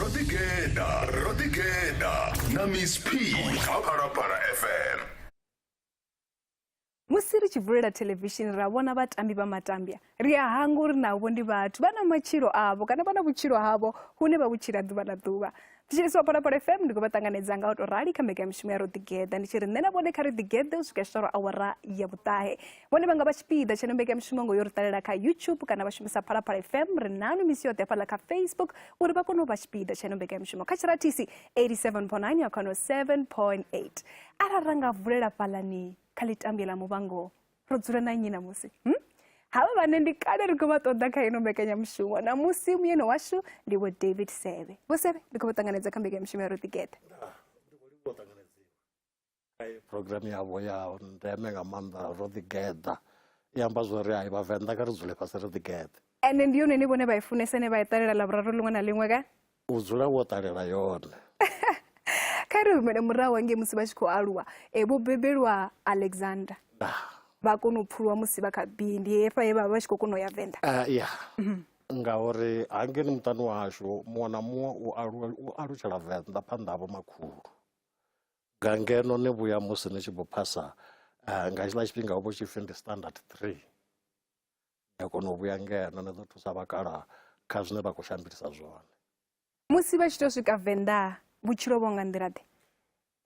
rodigeda rodigeda na miss p kha phalaphala fm musi ri tshi vulela thelevishini ra vhona vhatambi vha matambya ri a hanga uri navho ndi vhathu vha na matshilo avho kana vha na vhutshilo havho hune vha vhutshila ḓuvha na ḓuvha ndi tshi iswa phalaphala fm ndi khou vha ṱanganedza nga u tou rali kha mbekanyamishumo ya ro ḓigeḓa ndi tshi ri nṋe na vhone kha ri ḓigeḓe u swika tshitalo awara ya vhuṱahe vhone vha nga vha tshipiḓa tsheno mbekanyamishumo ngo yo ri ṱalela kha youtube kana vha shumisa phalaphala fm ri nanu misi yoṱhe hafhaḽa kha facebook uri vha kone u vha tshipiḓa tsheno mbekanyamishumo kha tshiratisi 87.9 ya khano 7.8 arali ra nga vulela fhalani kha ḽitambie ḽa muvhango ro dzula na nnyi ṋamusi hm? havha vhane ndi kale ri khou vha ṱoḓa kha ino mbekanyamushumo ṋamusi muyeno washu ndi vho david sebe vho sebe ndi khou vha ṱanganedza kha mbekanyamushumo ya ro ḓigeḓa program yavho ya ndeme nga maanḓa ro ḓigeḓa i amba zwori hai vhavenḓa kha ri dzule fhasi ri ḓigeḓe ende ndi yone ni vhone vha i funesa ne vha i ṱalela ḽavhuraru ḽiṅwe na ḽiṅwe ka u dzula wo ṱalela yone kha ri humele murahu hangei musi vha tshi khou aluwa e vho bebelwa alexander vha kona u pfuluwa musi vha kha bi ndi hefha he vhavha vha tshi khou kona u ya venḓa ah, ya mhm. ngauri hangeni muṱani washu muṅwe na muṅwe u alu u alutshela venḓa phanḓa havho makhulu nga ngeno ni vhuya musi ni tshi vho phasa ah, nga tshiḽa tshifhinga ho vho tshipfi ndi standard three Ni a kona u vhuya ngeno ni ḓo thusa vhakalaha kha zwine vha khou shandukisa zwone. Musi vha tshi tou swika Venḓa vhutshilo vho nga nḓila-ḓe?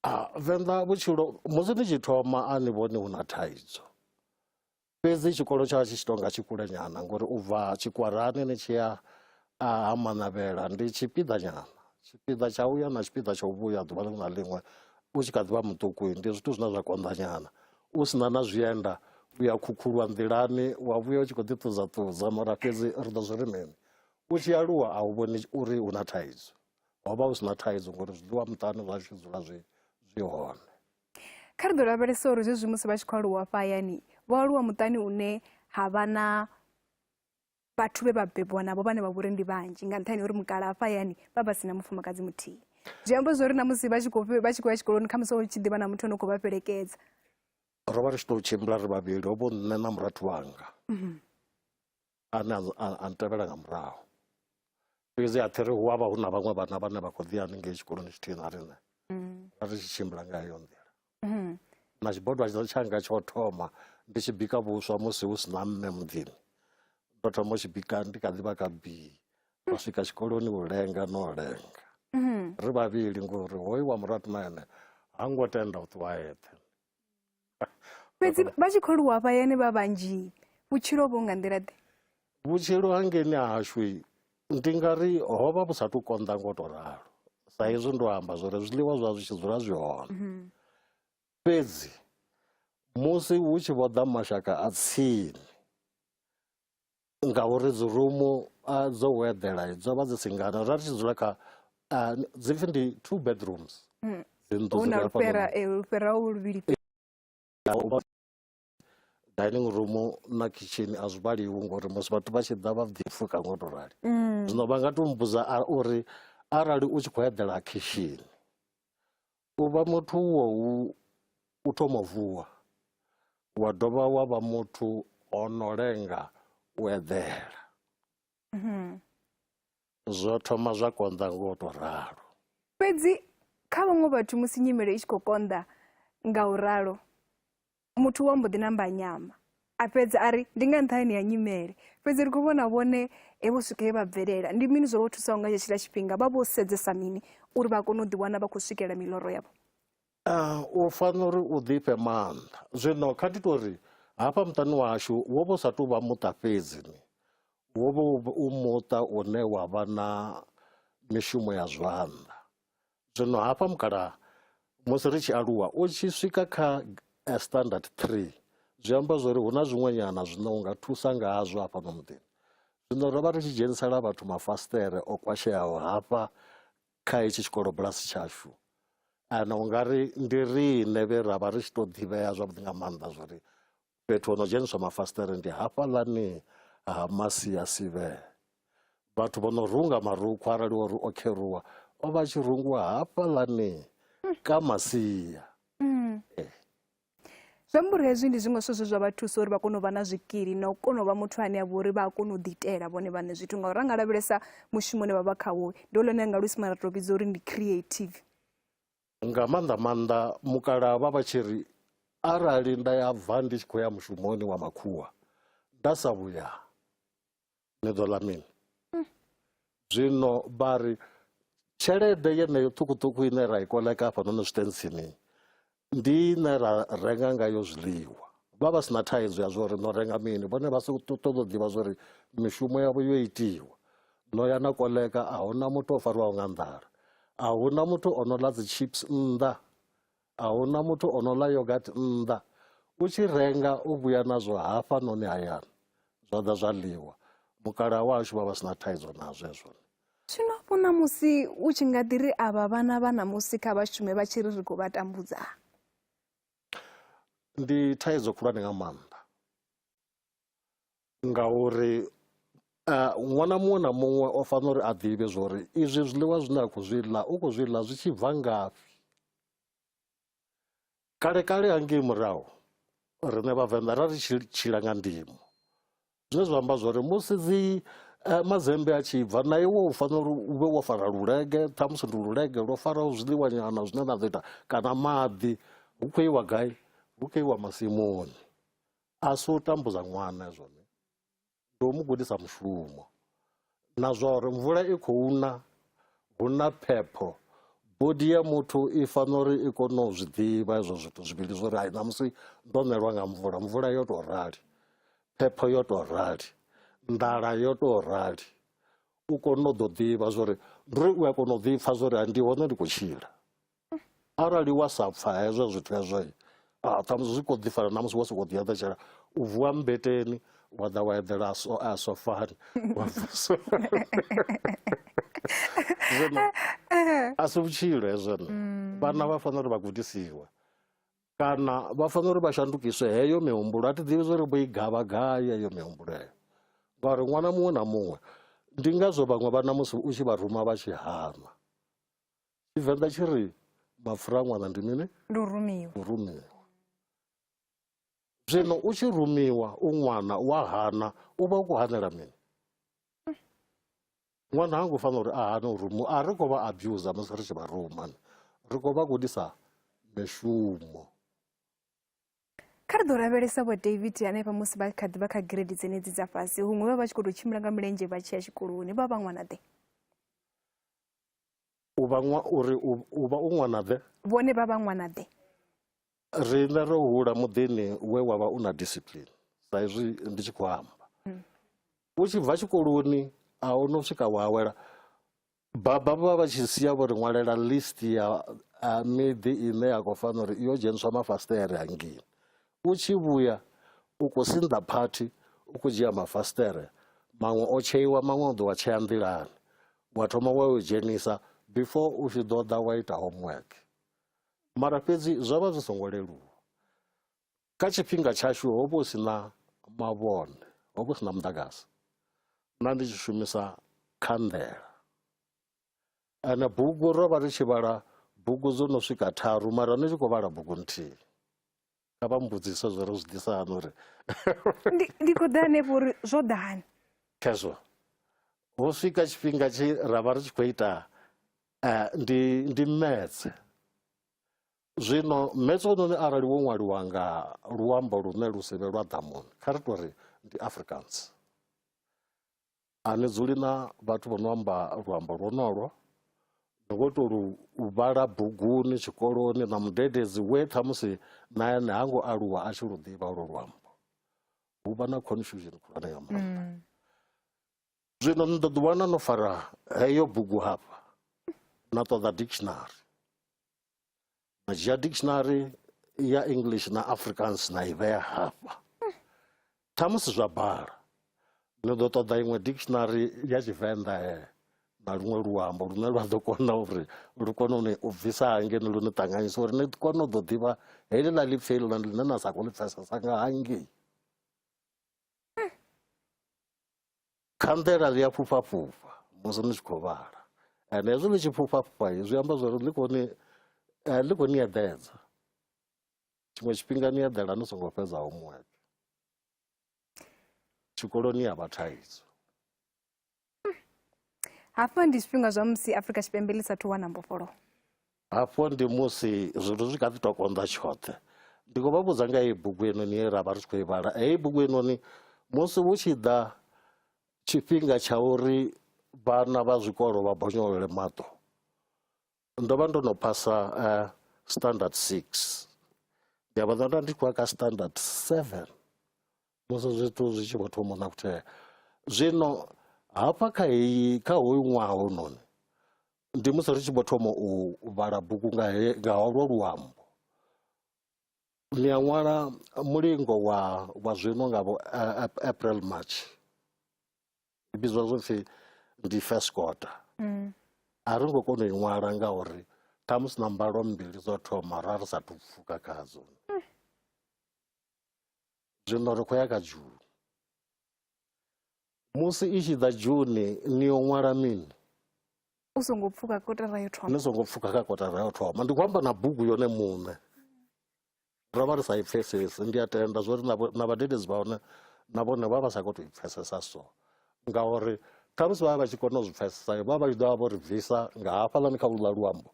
Ah, Venḓa vhutshilo musi ni tshi thoma a ni vhoni hu na thaidzo fhedzi tshikolo tsha tshi tshi tou nga tshi kulenyana ngori u bva tshikwarani ni tshi ya a ha manavhela ndi tshipiḓa nyana tshipiḓa tsha uya na tshipiḓa tsha u vhuya ḓuvha ḽiṅwe na ḽiṅwe u tshi kha ḓivha muṱuku ndi zwithu zwine zwa konḓa nyana u sina na zwienda u ya khukhulwa nḓilani wa vhuya u tshi khou ḓi ṱudza ṱudza mara fhedzi ri ḓo zwi ri mini u tshi aluwa a u vhoni uri hu na thaidzo ho vha hu si na thaidzo ngori zwiḽiwa muṱani zwa tshi dzula zwi zwi hone kha ri ḓo lavhelesa uri zwezwi musi vha tshi khou aluwa fhayani vho aluwa muṱani une ha vha na vhathu vhe vha bebwa navho vhane vha vhori ndi vhanzhi nga nṱhani uri mukala hafha hayani vha vha si na mufumakadzi muthihi zwi amba zwori na musi vha tshi khou vha tshi khou ya tshikoloni khamusi hu tshi ḓivha na muthu ane u khou vha fhelekedza ro vha ri tshi tou tshimbila ri vhavhili ho vho nṋe na murathu wanga mhm. ane a ntevhela nga murahu fhedzi a thi ri hu avha hu na vhaṅwe vhana vhane vha khou ḓi haningei tshikoloni tshithihi na riṋe mm. ra ri tshi tshimbila nga heyo nḓila mm-hmm. na tshibodwa tshanga tsho thoma ndi tshi bika vhuswa musi hu si na mme muḓini ndo thoma u tshi bika ndi kha ḓivha ka bii ra mm. swika tshikoloni u lenga no lenga mm-hmm. ri vhavhili ngori hoyu wa muratu na ene ha ngo tenda u ṱuwa eṱhe fhedzi vha tshi khou lwa vhayani vha vhanzhi vhutshilo vho nga nḓila ḓe vhutshilo hangeni hashu ndi nga ri ho vha vhu sa tu konḓa ngo to ralo sa hezwi ndo amba zwori zwiḽiwa zwa zwi tshi dzula zwi hone mhm. fhedzi musi hu tshi vho ḓa mashaka a tsini ngauri dzi rumu dzo weḓela dzo vha dzi singana ra ri tshi dzula kha dzi pfhi ndi two bedrooms hmm. huna lufhera eh, lufhera u luvhili dining room na kitchen a zwi vhaliwi ngori musi vhathu vha tshi ḓa vha ḓi pfuka ngo to rali hmm. zwino vha nga to mmbudza uri arali u tshi khou eḓela khishini U vha muthu uho hu u thoma u vuwa, wa dovha wa vha muthu o no lenga u eḓela. Mhm. Zwo thoma zwa konḓa ngo to ralo. Fhedzi kha vhaṅwe vhathu musi nyimele i tshi khou konḓa nga u ralo, muthu wa mbo ḓi namba nyama a fhedza a ri ndi nga nṱhani ya nyimele fhedzi ri khou vhona vhone he vho swika he vha bvelela ndi mini zwo vho thusaho nga tshetshiḽa tshifhinga vha vho sedzesa mini uri vha kone u ḓiwana vha khou swikela miloro yavho ah, u fanela uri u ḓifhe maanḓa zwino kha ndi tori hafha muṱani washu wo vho sa tou vha muṱa fhedzi ni wo vho u muṱa une wa vha na mishumo ya zwanḓa zwino hafha mukalaha musi ri tshi aluwa u tshi swika kha eh, standard 3 zwi amba zwori hu na zwiṅwenyana zwine u nga thusa ngazwo hafhano muḓini zwino ro vha ri tshi dzhenisela vhathu mafasiṱere o kwasheaho hafha kha hetshi tshikolo bulasi tshashu ana u nga ri ndi riṋe vhe ra vha ri tshi tou ḓivhea zwavhuḓi nga maanḓa zwori Fhethu ho no dzheniswa mafasiṱere ndi hafhaḽani ha masia sivhele vhathu vho no runga marukhu arali o ri o kheruwa o vha tshi rungiwa hafhaḽani ka masia mm. eh. zwi amba uri hezwi ndi zwiṅwe zwithu zwe zwa vha thusa uri vha kone u vha na zwikili na u kona u vha muthu ane a vha uri vha a kona u ḓiitela vhone vhaṋe zwithu ngauri ra nga lavhelesa mushumo une vha vha khawo ndi o lone nga luisimane ra tou vhidza uri ndi creative nga maanḓa maanḓa mukala vha vha tshi ri arali nda ya bva ndi tshi khou ya mushumoni wa makhuwa nda sa vhuya ni ḓo ḽa mini hmm. zwino vha ri tshelede yeneyo ṱhukhuṱhukhu ine ra i koleka hafhanoni zwitentsini ndi ine ra renga ngayo zwiḽiwa vha vha si na thaidzo ya zwo ri no renga mini vhone vha si ṱoḓa u ḓivha zwo ri mishumo yavho yo itiwa ḽo ya na koleka a huna muthu o fariwaho nga nḓala a huna muthu o no ḽa dzi chips nnḓa a huna muthu o no ḽa yogat nnḓa u tshi renga u vhuya nazwo hafha noni hayani zwa ḓa zwa ḽiwa mukalaha wahashu vha vha si na thaidzo na zwezwo zwino vho ṋamusi u tshi nga ḓi ri avha vhana vha ṋamusi kha vha shume vha tshi ri ri khou vha tambudza ndi thaidzo khulwane nga maanḓa ngauri ṅwana muṅwe na muṅwe o fanela uri a ḓivhe zwori izwi zwiḽiwa zwine a khou zwi ḽa u khou zwi ḽa zwi tshi bva ngafhi kale kale hangei murahu riṋe vhavenḓa ra ri tshi tshila nga ndimo zwine zwa amba zwori musi dzi eh, mazembe a tshi bva na iwe u fanela uri u vhe wo fara lulege ṱhamusi ndi lulege lwo faraho zwiḽiwanyana zwine na ḓo ita kana maḓi hu khou iwa gai hu khou iwa masimuni a si u tambudza ṅwana zwone ndi u mu gudisa mushumo na zwa uri mvula i khou na hu na phepho bodi ya muthu i fanela uri i kone u zwi ḓivha izwo zwithu zwivhili zwo uri hai ṋamusi ndo ṋelwa nga mvula mvula yo tou rali phepho yo tou rali nḓala yo tou rali u kone u ḓo ḓivha zwa uri ndi uri u a kona u ḓipfa zwa uri ndi hone ndi khou tshila arali wa sa pfa hezwo zwithu hezwo ah, ṱhamusi zwi kho ḓi fana na musi wo sokou ḓiaḓetshela u vuwa mmbeteni wa ḓa wa eḓela a sofani wa vusa zwino a si vhutshilo hezwono mm. vhana vha fanela uri vha gudisiwe kana vha fanela uri vha shandukiswe heyo mihumbulo a thi ḓivhi zwo ri bo i gavha gai heyo mihumbulo heyo ngauri ṅwana muṅwe na muṅwe ndi ngazwo vhaṅwe vhana musi u tshi vha ruma vha tshi hana tshivenḓa tshi ri mapfura a ṅwana ndi mini ndi u rumiwa u rumiwa zwino u tshi rumiwa u ṅwana wa hana u vha u khou hanela mini ṅwana ha ngo fanela uri a hane u rumiwa a ri khou vha abusa musi ri tshi vha rumani ri khou vha gudisa mishumo kha ri ḓo lavhelesa vho david hanefha musi vha kha ḓi vha kha giredi dzenedzi dza fhasi huṅwe vha vha tshi khou tou tshimbila nga milenzhe vha tshi ya tshikoloni vha vha ṅwanaḓe u vha ṅwa uri u u vha u ṅwana-ḓe vhone vha vha ṅwana-ḓe riṋe ro hula muḓini we wa vha u na discipline sa izwi ndi tshi khou amba u tshi bva tshikoloni a hu no swika wa awela baba vha vha tshi sia vho ri ṅwalela list ya a miḓi ine ya khou fanela uri yo dzheniswa mafasiṱere hangini u tshi vhuya u khou sinḓa phathi u khou dzhia mafasiṱere maṅwe o tsheiwa maṅwe o ḓo wa tshea nḓilani wa thoma wa u dzhenisa before u tshi ḓo ḓa wa ita homework mara fhedzi zwo vha zwi songo leluwa kha tshifhinga tshashu ho vha hu si na mavhone ho vha hu si na muḓagasi na ndi tshi shumisa khanḓela ane bugu ro vha ri tshi vhala bugu dzo no swika tharu mara ni tshi khou vhala bugu nthihi kha vha mbudzise zwo ri zwi ḓisa hani uri ndi khou ḓa hanefho uri zwo ḓa hani khezwo ho swika tshifhinga tshi ra vha ri tshi khou ita eh, ndi ndi metse zwino metse ononi arali wo ṅwaliwa nga luambo lune lu si vhe lwa ḓamuni kha ri tori ndi africans A ni dzuli na vhathu vho no amba luambo lwonolwo. Ni khou tou lu vhala buguni tshikoloni na mudededzi we khamusi na ene ha ngo aluwa a tshi lu ḓivha olwo luambo. Hu vha na confusion khulwane nga maanḓa. Zwino ni ḓo ḓiwana no fara heyo bugu hafha na ṱoḓa dictionary. Ma dzhia dictionary ya English na Afrikaans na i vhea hafha. Ṱhamusi zwa bala ni ḓo ṱoḓa iṅwe dictionary ya Tshivenḓa na luṅwe luambo lune lwa ḓo kona uri lu kone uni u bvisa hangeni lu ni ṱanganyisa uri ni kone u ḓo ḓivha heḽi ḽa ḽipfi heḽi ḽine na sa khou ḽi pfesesa nga hangei. Khanḓela ḽi a fhufha fhufha musi ni tshi khou vhala and hezwi ḽi tshi fhufha fhufha zwi amba zwori ḽi khou ni eh, ḽi khou ni eḓedza tshiṅwe tshifhinga ni eḓela ni songo fhedza homework tshikoloni ya vha thaidzo hafha ndi zwifhinga zwa musi afrika tshipembe ḽi sathu wana mbofholowo Hafho ndi musi zwithu zwi kha ḓi tou konḓa tshoṱhe ndi khou vha vhudza nga heyi bugu heinoni ye ra vha ri tshi khou i vhala heyi bugu heinoni musi hu tshi ḓa tshifhinga tsha uri vhana vha zwikolo vha bonyolole maṱo ndo vha ndo no phasa uh, standard six ndi a vha ḓonda ndi khou ya kha standard seven musi zwithu zwi tshi vho thoma na kuthea zwino hafha kha heyi kha hoyu ṅwaha hononi ndi musi ri tshi vho thoma u vhala bugu nga nga holwo luambo ni a ṅwala mulingo wa wa zwino nga vho april march i vhidzwa zwo pfhi ndi first quarter mm. a ri ngo kona u i ṅwala ngauri ṱhamusi na mbalo mbili dzo thoma ra ri sathu pfuka khadzo mm. zwino ri khou ya kha juli musi i tshi ḓa june ni yo ṅwala mini u songo pfuka kotara yo thoma ni songo pfuka kha kotara yo thoma ndi khou amba na bugu yone muṋe ro vha ri sa i pfesesi ndi a tenda zwo ri na vhadededzi vha hone na vhone vha vha sa khou tou i pfesesa so ngauri khamusi vha vha vha tshi kona u zwi pfesesa vha vha tshi ḓo vha vho ri bvisa nga hafhaḽani kha luḽa luambo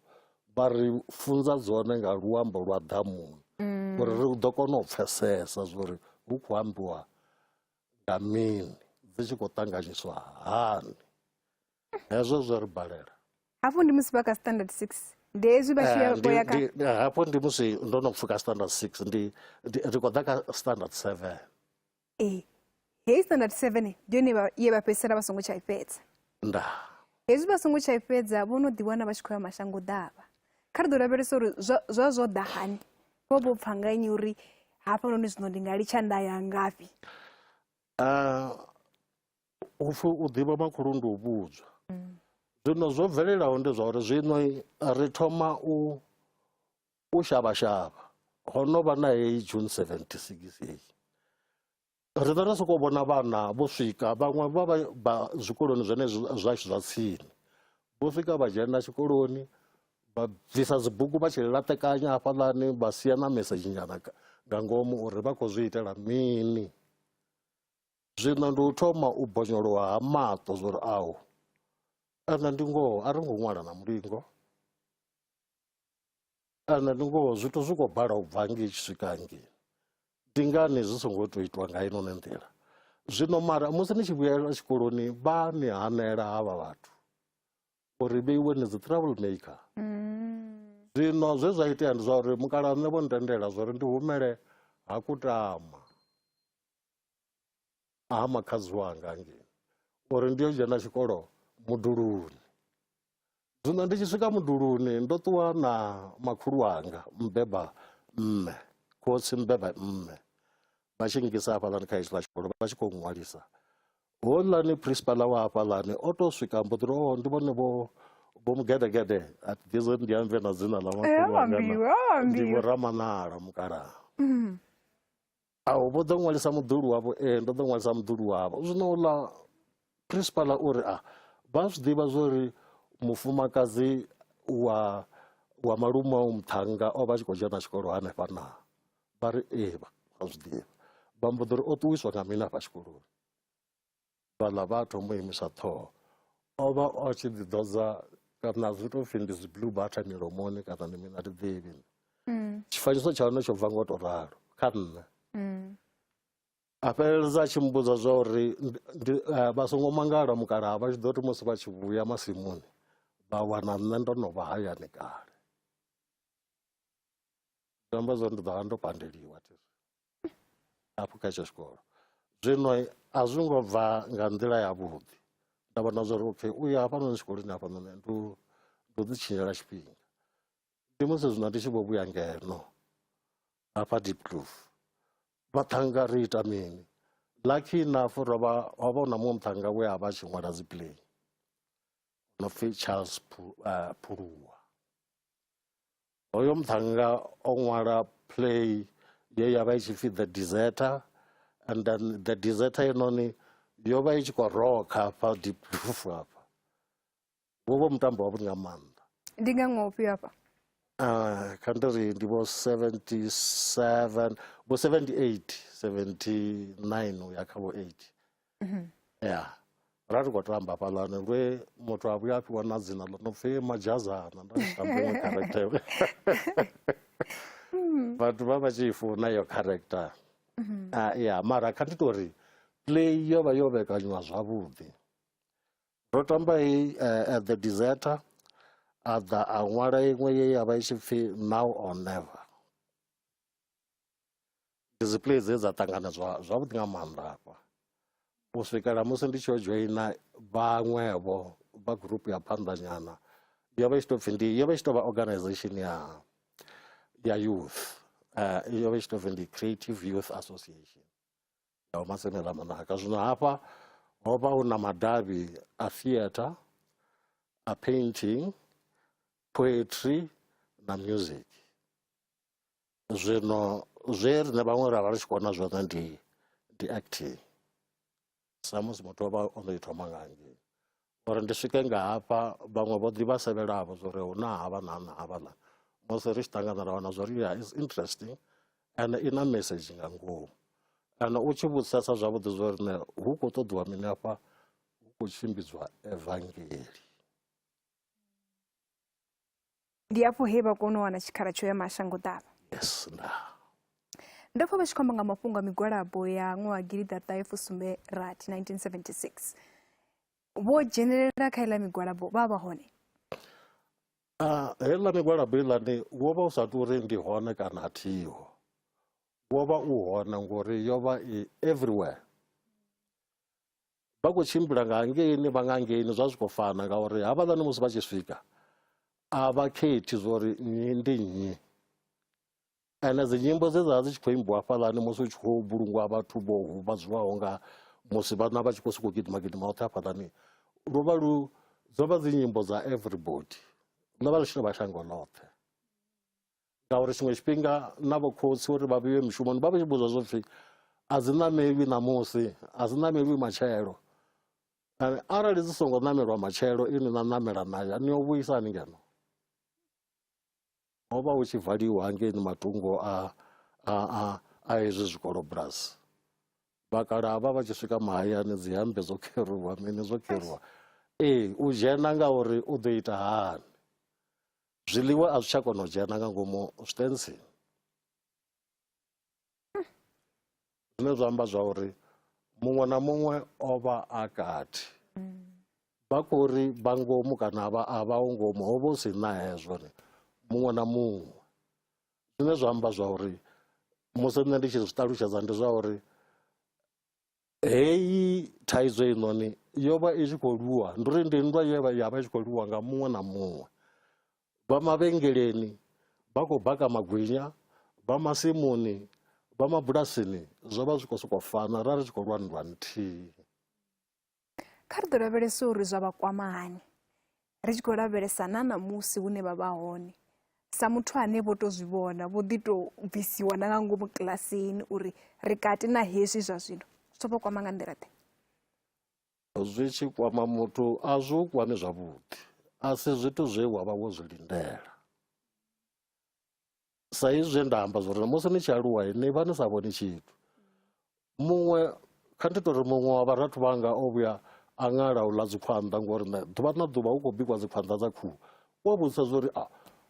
vha ri funza dzone nga luambo lwa ḓamuni mm. uri ri ḓo kona u pfesesa zwori hu khou ambiwa nga mini dzi tshi khou ṱanganyiswa hani hezwo zwo ri balela hafho ndi musi vha kha standard six ndi hezwi vha tshiya eh, hafho ndi musi ndo no pfuka standard six ndi ri khou ḓa kha standard seven ee heyi standard seven ndi yone ye vha fhedzisela vha songo tsha i fhedza nda hezwi vha songo tsha i fhedza vho no ḓiwana vha tshi khou ya mashango ḓavha kha ri ḓo lavhelesa uri zwa zwo ḓa hani vho vho pfha nga nnyi uri hafhanoni zwino ndi nga litsha nda ya ngafhi ah, upfi u ḓivha makhulu ndi u vhudzwa mm. zwino zwo bvelelaho ndi zwa uri zwino ri thoma u u shavha shavha ho no vha na heyi june 76 heyi Ri vha ri sokou vhona vhana vho swika vhaṅwe vha vha vha zwikoloni zwone zwashu zwa tsini vho swika vha dzhena tshikoloni vha bvisa dzibugu vha tshi laṱekanya hafhaḽani vha sia na mesedzhi nyana nga ngomu uri vha khou zwi itela mini zwino ndi u thoma u bonyolowa ha maṱo zwori awu ende ndi ngoho a ri ngo ṅwala na mulingo kana ndi ngoho zwithu zwi khou bala u bva ngei tshi swika ngei ndi ngani zwi songo tou itwa nga inoni nḓila zwino mara musi ni tshi vhuyela tshikoloni vha ni hanela havha vhathu uri vheiwe ni dzi trouble maker mm. zwino zwe zwa itea ndi zwa uri mukala nṋe vho ntendela zwa uri ndi humele ha kutama ha makhadzi wanga ngei uri ndi yo dzhena tshikolo muduluni zwino ndi tshi swika muduluni ndo ṱuwa na makhulu wanga mbeba mme khotsi mbeba mme vha tshi ngisa hafhaḽani kha hetshiḽa tshikolo vha tshi khou ṅwalisa hoḽani principal wa hafhaḽani o to swika mbo ḓi oh, ndi vhone vho vho mugedegede ati gezo ndi ambe na dzina ḽa makhulu wanga ndi vho ramanala mukalaha mm. Ao, vho ḓo ṅwalisa muḓulu wavho. Ee, ndo ḓo ṅwalisa muḓulu wavho. Zwino uḽa principal o ri, a, vha zwi ḓivha zwo ri mufumakadzi wa wa malume au muṱhannga o vha a tshi khou dzhena tshikolo hanefha na vha ri ee vha zwi ḓivha vha mbo ḓi ri o ṱuwiswa nga mini afha tshikoloni vhaḽa vha a thoma u imisa ṱhoho o vha o tshi ḓi ḓodza kana zwi tou pfhi ndi dzi blue butter milomoni kana ndi mina ti ḓivhi mm. tshifanyiso tsha hone tsho bva ngo to ralo kha nṋe mm. a fheleledza a tshi mbudza zwa uri eh, vha songo mangala mukalaha vha tshi ḓo ti musi vha tshi vhuya masimuni vha wana nṋe ndo no vha hayani kale zwi amba zwo ndi ḓo vha ndo pandeliwa hafhu kha etsho tshikolo zwino a zwi ngo bva nga nḓila yavhuḓi nda vhona zwa uri okay u ya hafhanoni tshikoloni hafhanoni ndi u ḓi tshinyela tshifhinga ndi musi zwino ndi tshi vho vhuya ngeno hafha dipcloof vhaṱhanga ri ita mini lucky enough ro vha ho vha na muṅwe muṱhanga we a vha tshi ṅwala dzi play no pfi charles uh, phuluwa Hoyo muṱhannga o ṅwala play ye ya vha i tshi pfhi the deserter and then the deserter yenoni yo vha i tshi khou rokha hafha deep roof hafha wo vha mutambo wavhuḓi nga maanḓa ndi nga ṅwaha ufhio hafha Uh, kha ndi ri ndi vho 77 vho 78 79 u ya kha vho 80 mhm. ya ra ri khou tamba fhaḽani lwe muthu a vhuya a fhiwa na dzina ḽo no pfhi madzhazana nda tshi tamba iṅwe character hmm. vhathu vha vha tshi i funa iyo character mhm. ah, ya mara kha ndi tori play yo vha yo vhekanyiwa zwavhuḓi ro tamba i eh, at the deserter a ḓa a ṅwala iṅwe ye ya vha i tshi pfhi now or never ndi dzi play dze dza ṱangana zwa zwavhuḓi nga maanḓa hafha u swikela musi ndi tshi yo dzhoina vhaṅwevho vha gurupu ya phanḓanyana yo vha i tshi tou pfhi ndi yo vha i tshi tou vha organization ya ya youth uh, yo vha i tshi tou pfhi ndi creative youth association ya umasemela manaka zwino hafha ho vha hu na madavhi a theatre a painting poetry na music zwino zwe riṋe vhaṅwe ra vha ri tshi kona zwone ndi ndi acting samusi muthu o vha o no i thoma nga ngei uri ndi swike nga hafha vhaṅwe vho ḓi vha sevhelavho zwo ri hu na havha na na havha ḽa musi ri tshi ṱangana ra wana zwo ri ya is interesting and i na message nga ngomu kana u tshi vhudzisesa zwavhuḓi zwo rine hu khou ṱoḓiwa mini afha hu khou tshimbidzwa evangeli ndi afho he vha kona u wana tshikhala tsho ya mashangoḓavha yes nda ndo pfa vha tshi khou amba nga mafhungo a migwalabo ya ṅwaha gilida ṱahe fusumbe rathi 1976 vho dzhenelela kha iḽa migwalabo vha vha hone ah, heiḽa migwalabo iḽani wo vha u sa tou uri ndi hone kana a thiho wo vha u hone ngori yo vha i everywhere vha khou tshimbila nga hangeini vha nga hangeini zwa zwi khou fana ngauri havhaḽani musi vha tshi swika a vha khethi zwori nnyi ndi nnyi ende dzi nyimbo dze dza dzi tshi khou imbiwa hafhaḽani musi hu tshi khou vhulungwa vhathu vho huvhadziwaho nga musi vhana vha tshi khou sokou gidima gidima hoṱhe hafhaḽani lu vha lu dzo vha dzi nyimbo dza everybody ḽo vha ḽi tshi no vha shango ḽoṱhe ngauri tshiṅwe tshifhinga na vho khotsi uri vha vhuye mishumoni vha vha tshi vhudzwa zwo pfhi a dzi ṋamelwi ṋamusi a dzi ṋamelwi matshelo and arali dzi songo ṋamelwa matshelo ini na ṋamela nayo ni yo vhuisa ni ngeno ho vha hu tshi valiwa hangeini matungo a a a a hezwi zwikolo bulasi vhakala vha vha tshi swika mahayani dzi hambe dzo kheruwa mini zwo kheruwa ee u dzhena ngauri u ḓo ita hani Zwiḽiwa a zwi tsha kona u dzhena nga ngomu zwitentsini zwine zwa amba zwa uri muṅwe na muṅwe o vha a kati vha khou ri vha ngomu kana a vha a vha ho ngomu ho vha hu si na hezwo ni muṅwe na muṅwe zwine zwa amba zwa uri musi nṋe ndi tshi zwi ṱalutshedza ndi zwa uri Heyi thaidzo heinoni yo vha i tshi khou lwiwa ndi uri ndi nndwa ye ya vha i tshi khou lwiwa nga muṅwe na muṅwe vha mavhengeleni vha khou baka magwinya vha masimuni vha mabulasini zwo vha zwi khou sokou fana ra ri tshi khou lwa nndwa nthihi. Kha ri ḓo lavhelesa uri zwa vha kwama hani, ri tshi khou lavhelesa na ṋamusi hune vha vha hone sa muthu ane vho tou zwi vhona vho ḓi tou bvisiwa na nga ngomu kilasini uri ri kati na hezwi zwa zwino zwi tou vha kwama nga nḓila ḓe zwi tshi kwama muthu a zwi u kwami zwavhuḓi a si zwithu zwe wa vha wo zwi lindela sa izwi zwe nda amba zwori musi ni tshi aluwa ni vha ni sa vhoni tshithu muṅwe kha ndi tori muṅwe wa vharathu vhanga o vhuya a ṅala u ḽa dzikhwanḓa ngori nṋe ḓuvha na ḓuvha hu khou bikwa dzikhwanḓa dza khuhu u a vhudzisa zwori a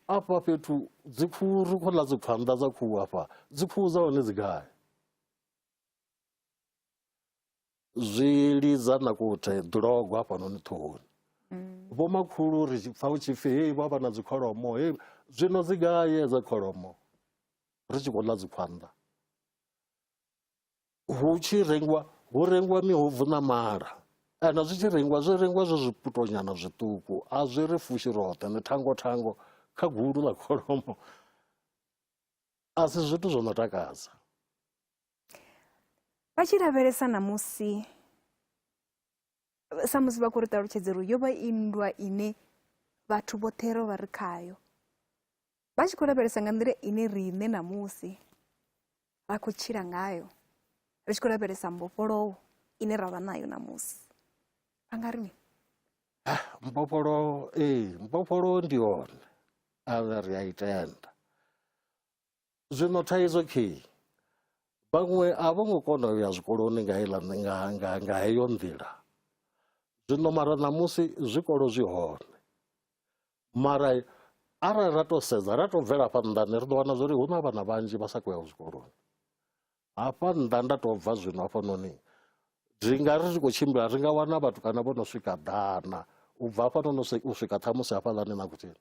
afha fhethu dzikhuhu ri khou ḽa dzikhwanḓa dza khuhu afha dzikhuhu dza hone dzi gai zwi lidza na kuthe ḓulogo hafhanoni ṱhohoni mm. vho makhulu ri pfa hu tshi pfi hei vha vha na dzikholomo hei zwino dzi gaye dza kholomo ri tshi khou ḽa dzikhwanḓa hu tshi rengiwa hu rengiwa mihubvu na mala kana zwi tshi rengiwa zwi rengiwa zwo zwiputonyana zwiṱuku a zwi ri fushi roṱhe ni thango thango kha gulu ḽa kholomo a si zwithu zwo no takadza vha tshi lavhelesa ṋamusi samusi vha khou ri ṱalutshedza uri yo vha i nndwa ine vhathu vhoṱhe ro vha ri khayo vha tshi khou lavhelesa nga nḓila ine riṋe ṋamusi ra khou tshila ngayo ri tshi khou lavhelesa mbofholowo ine ra vha nayo ṋamusi vha nga ri mini ah, mbofholowo ee mbofholowo ndi yone a ri a i tenda Zwino thaidzo khei vhaṅwe a vho ngo kona u ya zwikoloni nga heiḽa nga nga nga heyo nḓila zwino mara ṋamusi zwikolo zwi hone mara arali ra to sedza ra to bvela hafha nnḓani ri ḓo wana zwori hu na vhana vhanzhi vha sa khou ya zwikoloni hafha nnḓa nda to bva zwino hafhanoni zwi nga ri ri khou tshimbila ri nga wana vhathu kana vho no swika ḓana u bva hafhanoni u swika ṱhamusi hafhaḽani na kuthini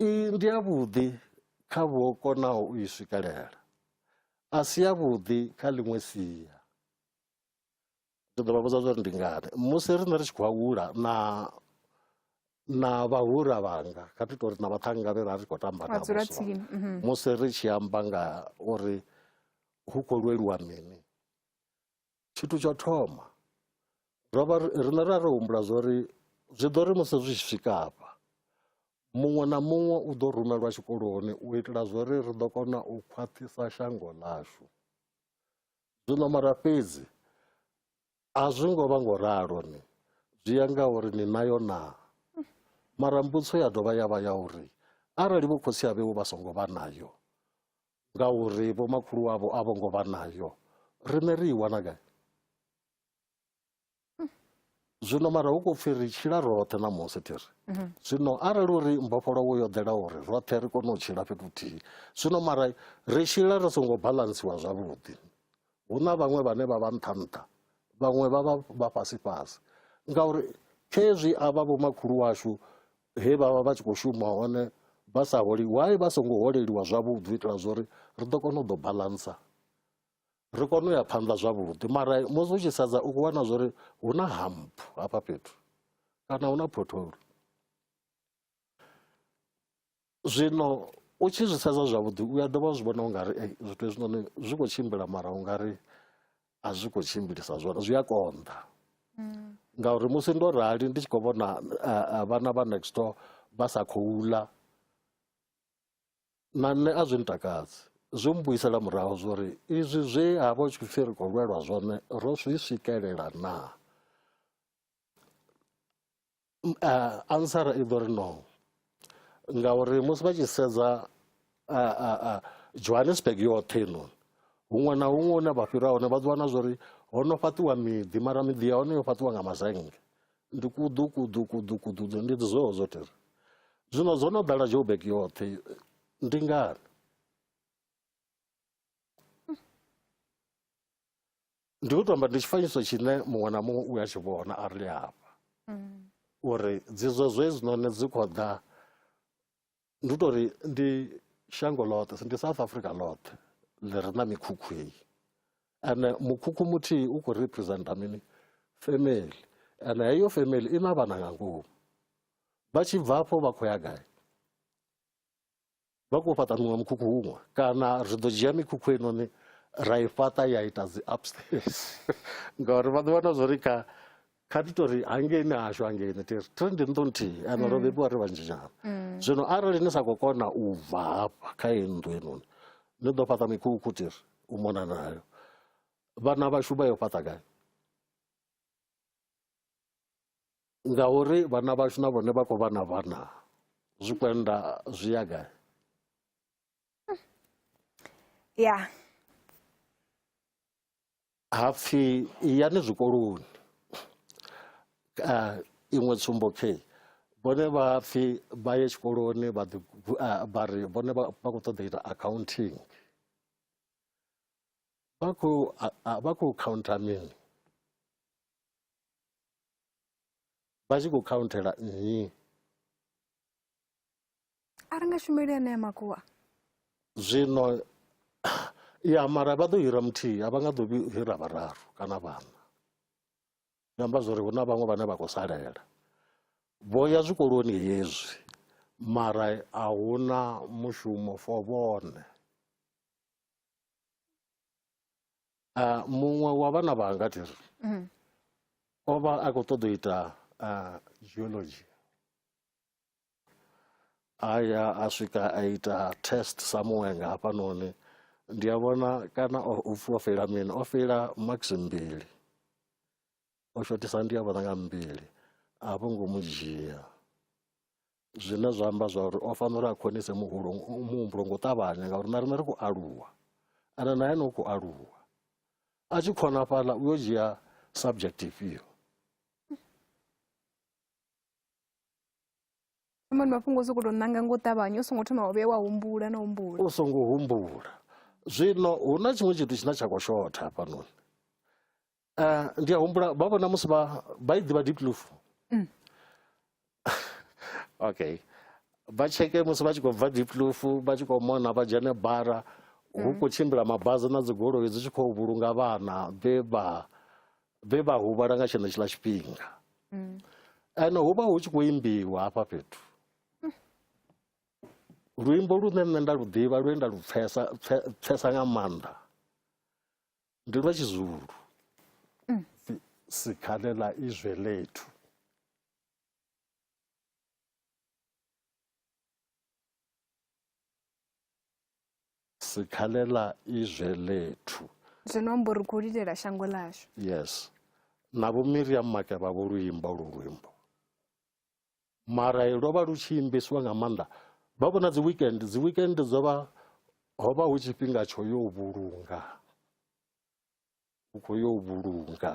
I ndi yavhuḓi kha vho konaho u i swikelela, a si yavhuḓi kha ḽiṅwe sia. Ndi ḓo vha vhudza zwa uri ndi ngani. Musi riṋe ri tshi khou hula na na vhahura vhanga kha thi tori na vhaṱhannga vhe ra ri khou tamba navho mhm. musi ri tshi amba nga uri hu khou lweliwa mini Tshithu tsha thoma ro vha riṋe ra ri humbula zwa uri zwi ḓo ri musi zwi tshi swika hafha muṅwe na muṅwe u ḓo rumelwa tshikoloni u itela zwa uri ri ḓo kona u khwaṱhisa shango ḽashu zwino mara fhedzi a zwi ngo vha ngo ralo ni zwi ya nga uri ni nayo naa mara mbudziso ya dovha ya vha ya uri arali vho khotsi avheu vha songo vha nayo ngauri vhomakhulu wavho a vho ngo vha nayo riṋe ri i wana gai zwino mara hu khou pfhi ri tshila roṱhe ṋamusi thi ri mhm. zwino arali uri mbofholowo yo ḓela uri roṱhe ri kone u tshila fhethu huthihi zwino mara ri tshila ri songo balansiwa zwavhuḓi hu na vhaṅwe vhane vha vha nṱha nṱha vhaṅwe vha vha vha fhasi fhasi ngauri khezwi a vha vhomakhulu washu he vha vha vha tshi khou shuma hone vha sa holi why vha songo holeliwa zwavhuḓi u itela zwori ri ḓo kona u ḓo balansa ri kone u ya phanḓa zwavhuḓi mara musi u tshi sedza u khou wana zwori hu na hamp hafha fhethu kana hu na potholo zwino u tshi zwi sedza zwavhuḓi u a dovha zwi vhona ungari zwithu hezwinoni zwi khou tshimbila mara ungari a zwi khou tshimbilisa zwone zwi a konḓa mm. ngauri musi ndo rali ndi tshi khou vhona eh, eh, vhana vha next door vha sa khou ula na nṋe a zwi ntakadzi zwi mbuyisela murahu zwori izwi zwe ha vha u tshi khou pfhi ri khou lwelwa zwone ro zwi swikelela naa ansara i ḓo ri no ngauri musi vha tshi sedza johannesburg yoṱhe inoni huṅwe na huṅwe hune vha fhira hone vha ḓi wana zwa uri ho no fhaṱiwa miḓi mara miḓi ya hone yo fhaṱiwa nga mazenge ndi kuḓu kuḓu kuḓu kuḓu ndi zweo zwo tere zwino zwo no ḓala joburg yoṱhe ndi ngani ndi u tou amba ndi tshifanyiso tshine muṅwe na muṅwe u a tshi vhona a ri hafha uri dzidzo zwe zwinoni dzi khou ḓa ndi u tou ri ndi shango ḽoṱhe ndi south africa ḽoṱhe ḽi re na mikhukhu heyi ene mukhukhu muthihi u khou representa mini family ene heyo family i na vhana nga ngomu vha tshi bva afho vha khou ya gai Vha khou fhaṱa muṅwe mukhukhu huṅwe kana ri ḓo dzhia mikhukhu inoni ra i fhaṱa ya ita dzi upstairs ngauri vha ḓi wana zwo ri kha kha ti tori hangeini hashu hangeini ti ri tiri ndi nnḓu nthihi ane ro mm. bebiwa ri vhanzhi nyana mm. zwino arali ni sa khou kona u bva hafha kha iyi nnḓu inoni ni ḓo fhaṱa mikhukhu ti ri u mona nayo vhana vhashu vha yo fhaṱa gai ngauri vhana vhashu na vhone vha khou vha na vhana zwikwenda zwi ya gai ya hapfi yani zwikoloni uh, iṅwe tsumbo khe vhone vha pfi vha ye tshikoloni vha ri vhone vha khou ṱoḓa ita accounting vha khou vha khou khaunthera mini vha tshi khou khaunthela nnyi a ri nga shumeli anea makuwa zwino ya mara vha ḓo hira muthihi a vha nga ḓo hira vhararu kana vhaṋa zwi amba zwori hu na vhaṅwe vhane vha khou salela vho ya zwikoloni hezwi mara a hu na mushumo for vhone Ah, muṅwe wa vhana vhanga thi ri mhm. o vha a khou ṱoḓa u ita ah, geology a ya a swika a ita test samuwe nga hafhanoni ndi a vhona kana u pfhi o feila mini o feila max mbili o shotisa ndi a vhona nga mbili a vho ngo mu dzhia zwine zwa amba zwa uri o fanela uri a khonise muhulu muhumbulo ngo ṱavhanya ngauri na riṋe ri khou aluwa ende na ene u khou aluwa a tshi khona fhaḽa u yo dzhia subject ifhio mani mafhungo o sokou tou ṋanga ngo ṱavhanya u songo thoma wa vhuya wa humbula na humbula u songo humbula zwino hu na tshiṅwe tshithu tshine tsha khou shotha hafhanoni Eh, ndi a humbula vha vhona musi vha vha i ḓivha deep loof mm. okay vha tsheke musi vha tshi khou bva deep loof vha tshi khou mona vha dzhene bara hu mm. khou tshimbila mabazi na dzigoloi dzi tshi khou vhulunga vhana vhe vha vhe vha huvhala nga tshenetshiḽa tshifhinga mm. ene hu vha hu tshi khou imbiwa hafha fhethu luimbo lune nṋe nda lu ḓivha lune nda lu pfesa pfesa nga maanḓa Ndi lwa Tshizulu. Mm. Si, sikhale ḽa izwe ḽethu. Sikhale ḽa izwe ḽethu. Zwino amba uri khou lilela shango ḽashu. Yes. Na vho Miriam Makeba vho luimba lu luimbo. mara lwo vha lu tshi imbesiwa nga maanḓa vha vhona dzi weekend dzi weekend dzo vha ho vha hu tshifhinga tsho yo vhulunga u khou yo vhulunga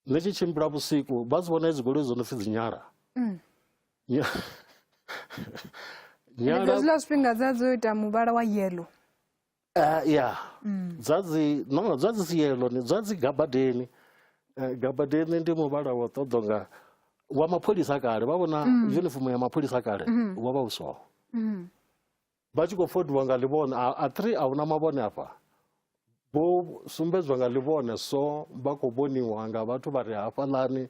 ni tshi tshimbila vhusiku vha dzi vhona hedzi goloi dzo no pfhi dzi nyala mm. nyala zwiḽa zwifhinga dza dzo ita muvhala wa yellow Uh, ya mm. dzadzi no dzadzi siyelo ni dzadzi gabadeni uh, gabadeni ndi muvhala wa ṱoḓo nga wa mapholisa kale vha vhona mm. uniform ya mapholisa kale mm. wa vha u so mm. vha tshi khou fodiwa nga ḽivhone a three a huna mavhone afha vho sumbedzwa nga ḽivhone so vha khou vhoniwa nga vhathu vha re hafhaḽani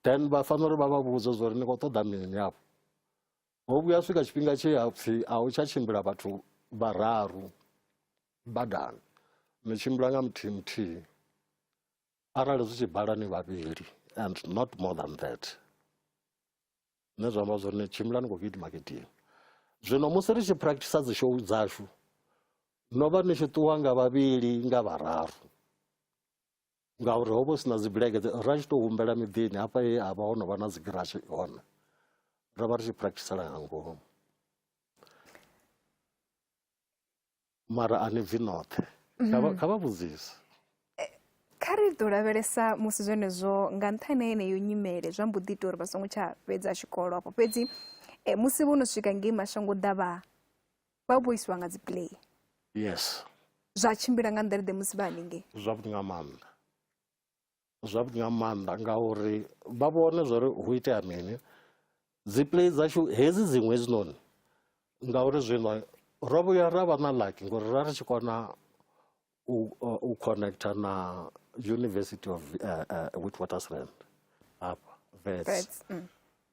then vha fanela uri vha vha vhudze zwa uri ni khou ṱoḓa mini afho Ho vhuya swika tshifhinga tshe ha pfhi a hu tsha tshimbila vhathu vhararu badani ni tshimbila nga muthihi muthihi arali zwi tshi bala ni vhavhili and not more than that zwine zwa amba zwori ni tshimbila ni khou gidima gidima zwino musi ri tshi practice dzi show dzashu no vha ni tshi ṱuwa nga vhavhili nga vhararu ngauri ho vha hu si na dzibulege ra tshi tou humbela miḓini hafha he ha vha ho no vha na dzigirashi hone ro vha ri tshi practisela nga ngomu mara a ni bvi noṱhe mhm. kha vha vhudzise eh, kha ri ḓo lavhelesa musi zwenezwo nga nṱhani heneyo nyimele zwa mbo ḓi ita uri vha songo tsha fhedza tshikolo afho fhedzi eh, musi vho no swika ngei mashango ḓavha vha vho isiwa nga dzi play yes zwa tshimbila nga nḓeleḓe musi vha haningei zwavhuḓi nga maanḓa zwavhuḓi nga maanḓa ngauri vha vhone zwa uri hu itea mini dzi play dzashu hedzi dziṅwe hedzinoni ngauri zwino ro vhuya ra vha na laki ngori ra ri tshi kona u, uh, u connecta na university of uh, uh, witwatersrand hafha vets mm.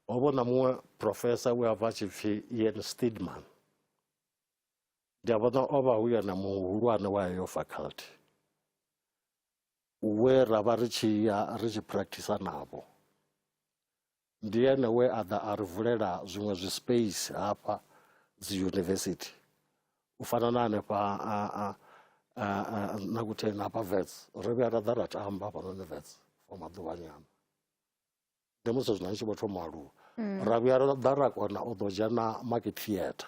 ho vho na muṅwe professor we a bva tshi pfi ian stidman ndi a vhona o vha hu yena muhulwane wa heyo faculty we ra vha ri tshi ya ri tshi practice navho Ndi ene we a ḓa a ri vulela zwiṅwe zwi space hafha dzi university u fana na hanefha a a a na kutheni hafha vets ro vhuya ra ḓa ra tamba hafhanoni vets for maḓuvhanyana ndi musi zwino ndi tshi vho thoma u aluwa mm. ra vhuya ra ḓa ra kona u ḓo dzhena market theatre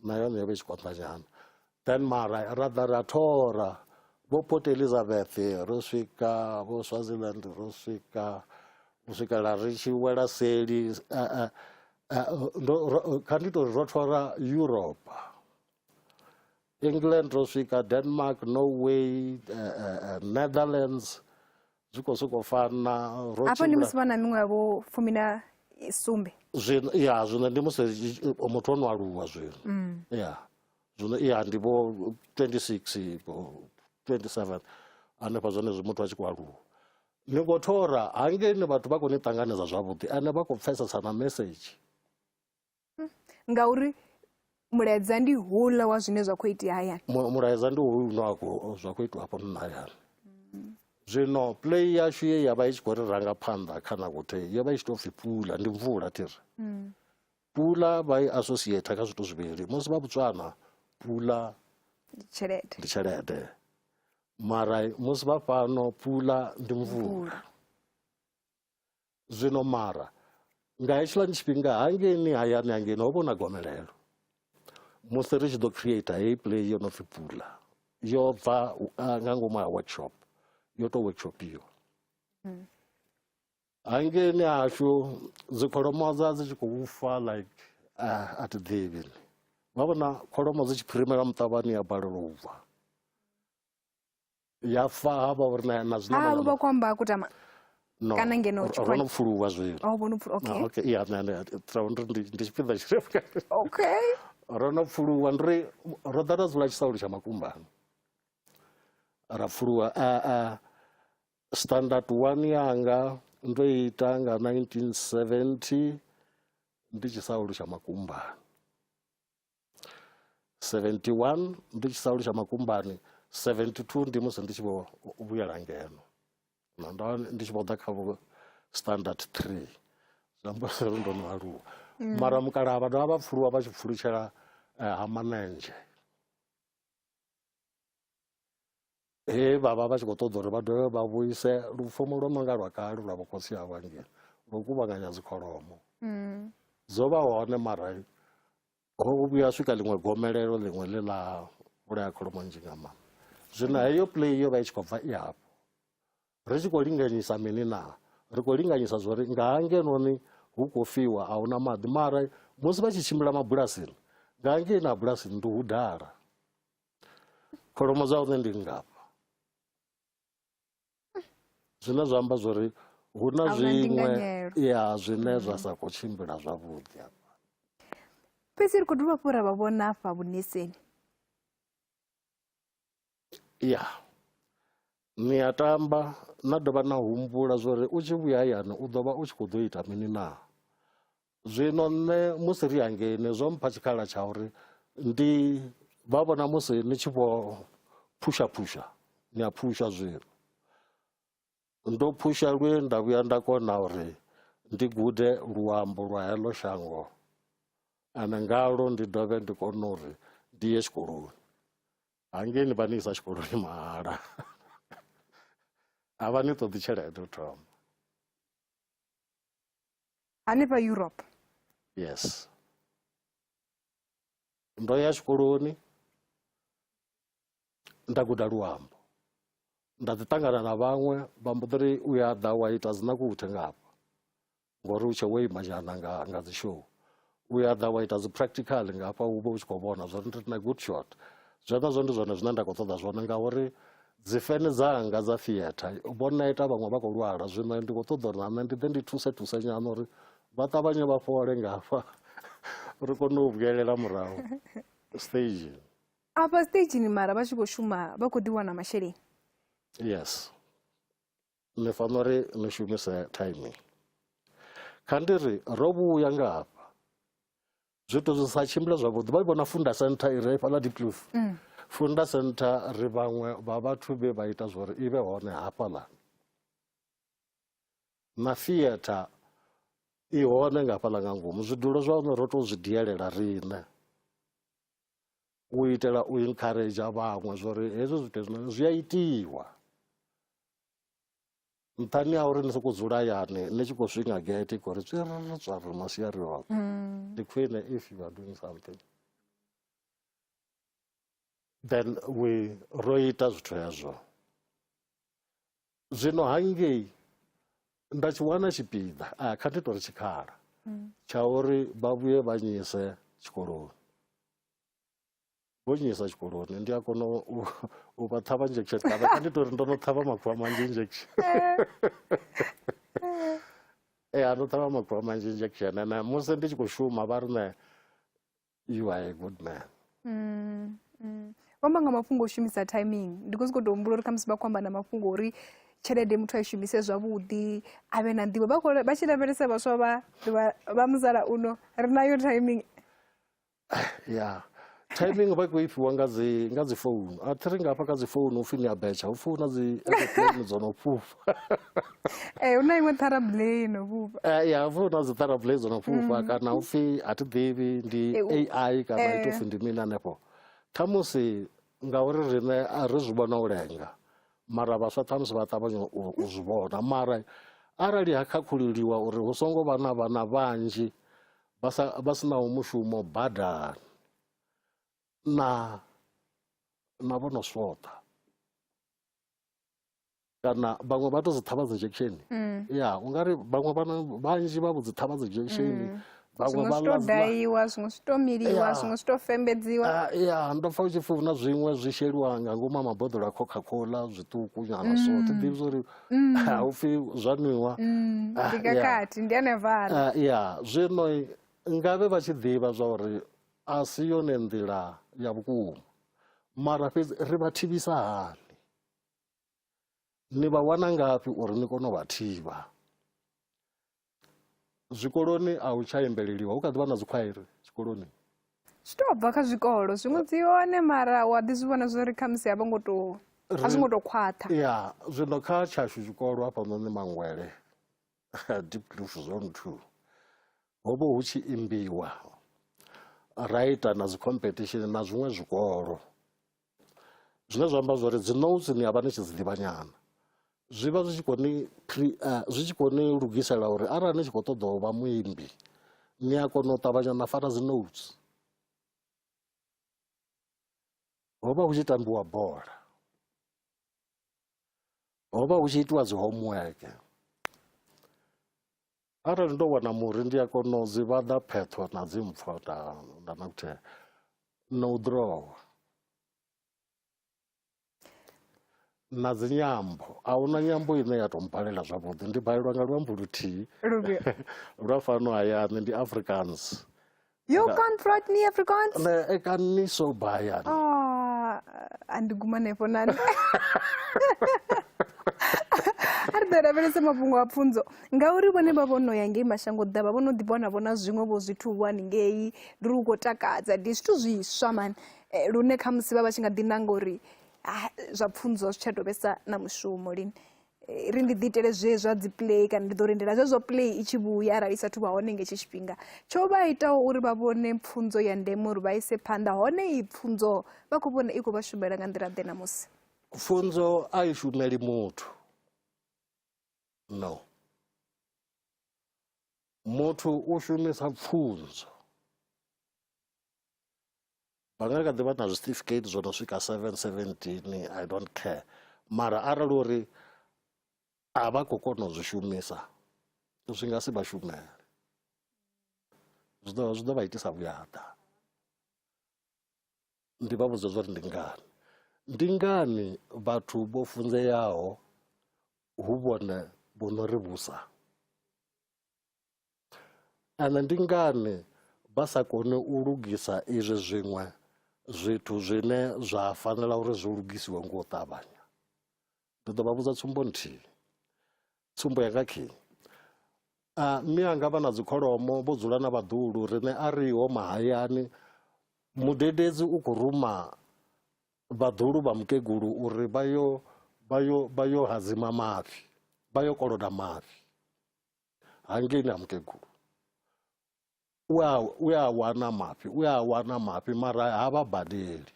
na yone yo vha i tshi konḓa nyana then mara ra ḓa ra thora vho port elizabeth ro swika vho swaziland ro swika u swikela ri tshi wela seli eh, eh, eh, kha ndi tori ro thora europe england ro swika denmark norway uh, uh, netherlands zwi khou sokou fana afho ndi musi vha na miṅwe yavho fumi na sumbe ya zwino ndi musi muthu o no aluwa zwino mm. ya zwino ya ndi vho 26 27 hanefha zwone zwi muthu a tshi khou aluwa ni khou thora hangeni vhathu vha khou ni ṱanganedza zwavhuḓi ane vha khou pfesesa na message ngauri mulaedza ndi houḽa wa zwine zwa khou itea hayani mulaedza ndi houḽa une wa khou zwa khou itiwa hafha nna hayani zwino play yashu ye ya vha i tshi khou ri ranga phanḓa kha nakuthei yo vha i tshi tou pfhi pula ndi mvula thi ri mm. pula vha i associate kha zwithu zwivhili musi vha botswana pula ndi tshelede ndi tshelede mara musi vha fhano pula ndi mvula zwino mara nga hetshiḽani tshifhinga hangeini hayani hangeini ho vha na gomelelo musi ri tshi ḓo creator heyi play yo no pfi pula yo bva ah, nga ngomu ha workshop yo tou workshopiwa mm. hangeini hashu dzikholomo dza dzi tshi khou fa like ah, a thi ḓivhi vha vhona kholomo dzi tshi phirimela muṱavhani ya balelwa u bva ya fa ha vha uri na na zina ha vha kwamba kutama no kana ngeno tshi kwamba no pfuluwa zwi oh vho no pfuluwa okay okay ya na na tra ndo ndi ndi tshipiḓa tshi okay ro no pfuluwa ndri ro ḓa ra dzula tshisaulo tsha makumbani ra pfuluwa a a standard 1 yanga ndo ita nga 1970 ndi tshisaulo tsha makumbani 71 ndi tshi saulu tsha makumbani 72 ndi musi ndi tshi vho vhuyela ngeno na ndo ndi tshi vho ḓa kha vho standard 3 zwiamba uri ndo no aluwa mm. mara mukalaha vha dovha vha pfuluwa vha tshi pfulutshela eh, ha manenzhe he vha vha vha tshi khou ṱoḓa uri vha dovhe vha vhuise lufumo lwo no nga lwa kale lwa vhukhotsi ha vhangeli lwo kuvhanganya dzikholomo mm. dzo vha hone mara ho vhuya swika ḽiṅwe gomelelo ḽiṅwe ḽe ḽa vhulaya kholomo nzhi nga maanḓa zwino heyo play yo vha i tshi khou bva i hafho ri tshi khou linganyisa mini na ri khou linganyisa zwa uri nga hangenoni hu khou fiwa a huna maḓi mara musi vha tshi tshimbila mabulasini nga ngei na bulasini ndi hu dala kholomo dza hone ndi ngafha zwine zwa amba zwori hu na zwiṅwe ya zwine zwa sa khou tshimbila zwavhuḓi afha fhedzi ri khou dovha hafhu ra vha vhona afha vhuneseni ya ni a tamba na dovha na humbula zwori u tshi vhuya hayani u ḓo vha u tshi khou ḓo ita mini naa zwino nṋe musi ri hangeini zwo mpha tshikhala tsha uri ndi vha vhona musi ni tshi vho phusha phusha ni a phusha zwino ndo phusha lwe nda vhuya nda kona uri ndi gude luambo lwa heḽo shango ane ngalo ndi dovhe ndi kone uri ndi ye tshikoloni hangei ni vha ni isa tshikoloni mahala a vha ni ṱoḓi tshelede u thoma hanefha europe yes ndo ya tshikoloni nda guda luambo nda ḓi ṱangana na vhaṅwe vha mbo ḓiri u ya ḓa wa ita dzinakuthe ngafha ngori u tshe wo ima nyana nga nga dzi show u ya ḓa wa ita dzi practical nga hafha u vha u tshi khou vhona zwo ri na good shot zwenezwo ndi zwone zwine nda khou ṱoḓa zwone ngauri dzifene dzanga dza theatre vho neta vhaṅwe vha khou lwala zwino ndi khou ṱoḓa uri na nṋe ndi ḓe ndi thuse thuse nyana uri vha ṱavhanye vha fhole nga hafha ri kone u vhuyelela murahu stage afha stageni mara vha tshi khou shuma vha khou ḓiwana masheleni yes ni fanela uri ni shumise timing kha ndi ri ro vhuya nga hafha zwithu zwi sa tshimbile zwavhuḓi vha vhona funda center i re fhaḽa dipluf mm. funda center ri vhaṅwe vha vhathu vhe vha ita zwori i vhe hone hafhaḽa na theatre i hone nga fhaḽa nga ngomu zwidulo zwa hone ro tou zwi dielela riṋe u itela u encourage vhaṅwe zwori hezwi zwithu hezwinoni zwi a itiwa nṱhani ha uri ni sokou dzula hayani ni tshi khou swinga gate khou ri tswiriri tswariri masiari oṱhe mm. ndi khwine if you are doing something then we ro ita zwithu hezwo zwino hangei nda tshi wana tshipiḓa a kha ndi tori tshikhala mm. tsha uri vha vhuye vha nyise tshikoloni vho nnyisa tshikoloni ndi a kona u vha ṱhavha injection kana kha ndi tori ndo no ṱhavha makhuvha manzhi injection ee a ndo ṱhavha makhuvha manzhi injection ene musi ndi tshi khou shuma vha rine you are a good man mm, mm. vhamba nga mafhungo o shumisa timing ndi khou sokou tou humbula uri khamusi vha khou amba na mafhungo uri tshelede muthu a i shumise zwavhuḓi a vhe na nḓivho vha tshi lavhelesa vhaswa vha vha musalauno ri nayo timing ya timing vha khou ifhiwa nga dzi nga dzi founu a thi ri nga hafha kha dzi founu upfhi ni a betsha hu pfhi hu na dzi aeroplane dzo no fhufha ee hu na iṅwe ṱharablei no fhufha eh, ya hupfhi hu na dzi ṱharablei dzo no fhufha mm. kana upfhi a thi ḓivhi ndi ai kana eh. ito pfhi ndi mini hanefho khamusi ngauri riṋe a ri zwi vhona u lenga mara vhaswa ṱhamusi vha ṱavhanya u zwi vhona mara arali ha khakhuliwa uri hu songo vha na vhana vhanzhi vha sa vha sinaho mushumo badani na na vho no swoṱa kana vhaṅwe vha to dzi ṱhavha dzi injection mm. ya u nga ri vhaṅwe vhana vhanzhi vha vho dzi ṱhavha dzi injection mm. vhaṅwe vha ḽa daiwa zwiṅwe zwi to miliwa zwiṅwe zwi to fembedziwa ah, ya ndo pfa u tshi pfuna zwiṅwe zwi sheliwa nga ngomu a maboḓelo a coca cola zwiṱuku nyana so mm. thi ḓivhi zwa uri mm. haupfi zwa nwiwa mm. ah, ndikakati ndi anevala ah, ya zwino ngavhe vha tshi ḓivha zwa uri a si yone nḓila ya vhukuma mara fhedzi ri vha thivhisa hani ni vha wana ngafhi uri ni kone u vha thivha zwikoloni a hu tsha imbeleliwa hu kha ḓi vha na dzikhwairi zwikoloni zwi tou bva kha zwikolo zwiṅwe dzi hone mara wa ḓi zwi vhona zwo ri khamusi a vho ngo tou a zwi ngo tou khwaṱha ya zwino kha tshashu zwikolo hafhanoni mangwele deep cliff zone two ho vha hu tshi imbiwa ra ita na dzi competition na zwiṅwe zwikolo zwine zwa amba zwori dzi notes ni avha ni tshi dzi ḓivha nyana zwi vha zwi tshi khou ni eh, zwi tshi khou ni lugisela uri arali ni tshi khou ṱoḓa u vha muimbi ni a kona u ṱavhanya na fara dzi notes ho vha hu tshi tambiwa bola ho vha hu tshi itiwa dzi homework Arali ndo wana muri ndi a kona u dzi vhaḓa pheṱho na dzi mpfo nda nda na kuthela na u ḓirowa na dzi nyambo a huna nyambo ine ya tou mbalela zwavhuḓi ndi balelwa nga luambo luthihi lwa fano hayani ndi africans Yo Nga- can't write me Afrikaans. Nee, ek kan nie so baie nie. Ah, and gumane fonani. ari ḓo lavhelesa mafhungo a pfunzo ngauri vhone vha vho no ya ngei mashango ḓavha vho no ḓi vhona vhona zwiṅwe vho zwithu vho haningei ndi lu khou takadza ndi zwithu zwiswa mani Eh, lune khamusi vha vha tshi nga ḓi nanga uri "Ah, zwa pfunzo zwi tsha tou vhesa na mushumo lini Eh, ri ndi ḓi itele zwe zwa dzi play kana ndi ḓo lindela zwezwo play i tshi vhuya arali i sathu vha hone nga hetshi tshifhinga tsho vha itaho uri vha vhone pfunzo ya ndeme uri vha ise phanḓa hone iyi pfunzo vha khou vhona i khou vha shumela nga nḓila ḓe ṋamusi pfunzo a i shumeli muthu no muthu u shumisa pfunzo vha nga kha ḓi vha na zwicertificate zwo no swika 717 i don't care mara arali uri a vha khou kona u zwi shumisa zwi nga si vha shumele zwi ḓo zwi ḓo vha itisa vhuyaḓa ndi vha vhudza zwa uri ndi ngani ndi ngani vhathu vho funzeaho hu vhone vho no ri vhusa Ane ndi ngani vha sa koni u lugisa izwi zwiṅwe zwithu zwine zwa fanela uri zwi lugisiwe nga u ṱavhanya ndi ḓo vha vhudza tsumbo nthihi tsumbo yanga khi a mme anga vha na dzikholomo vho dzula na vhaḓulu riṋe a riho mahayani mudededzi u khou ruma vhaḓulu vha mukegulu uri vha yo vha yo vha yo hadzima mafhi vha yo koloda mafhi hangei na mukegulu u a, u a wana mafhi u a wana mafhi mara ha vha badeli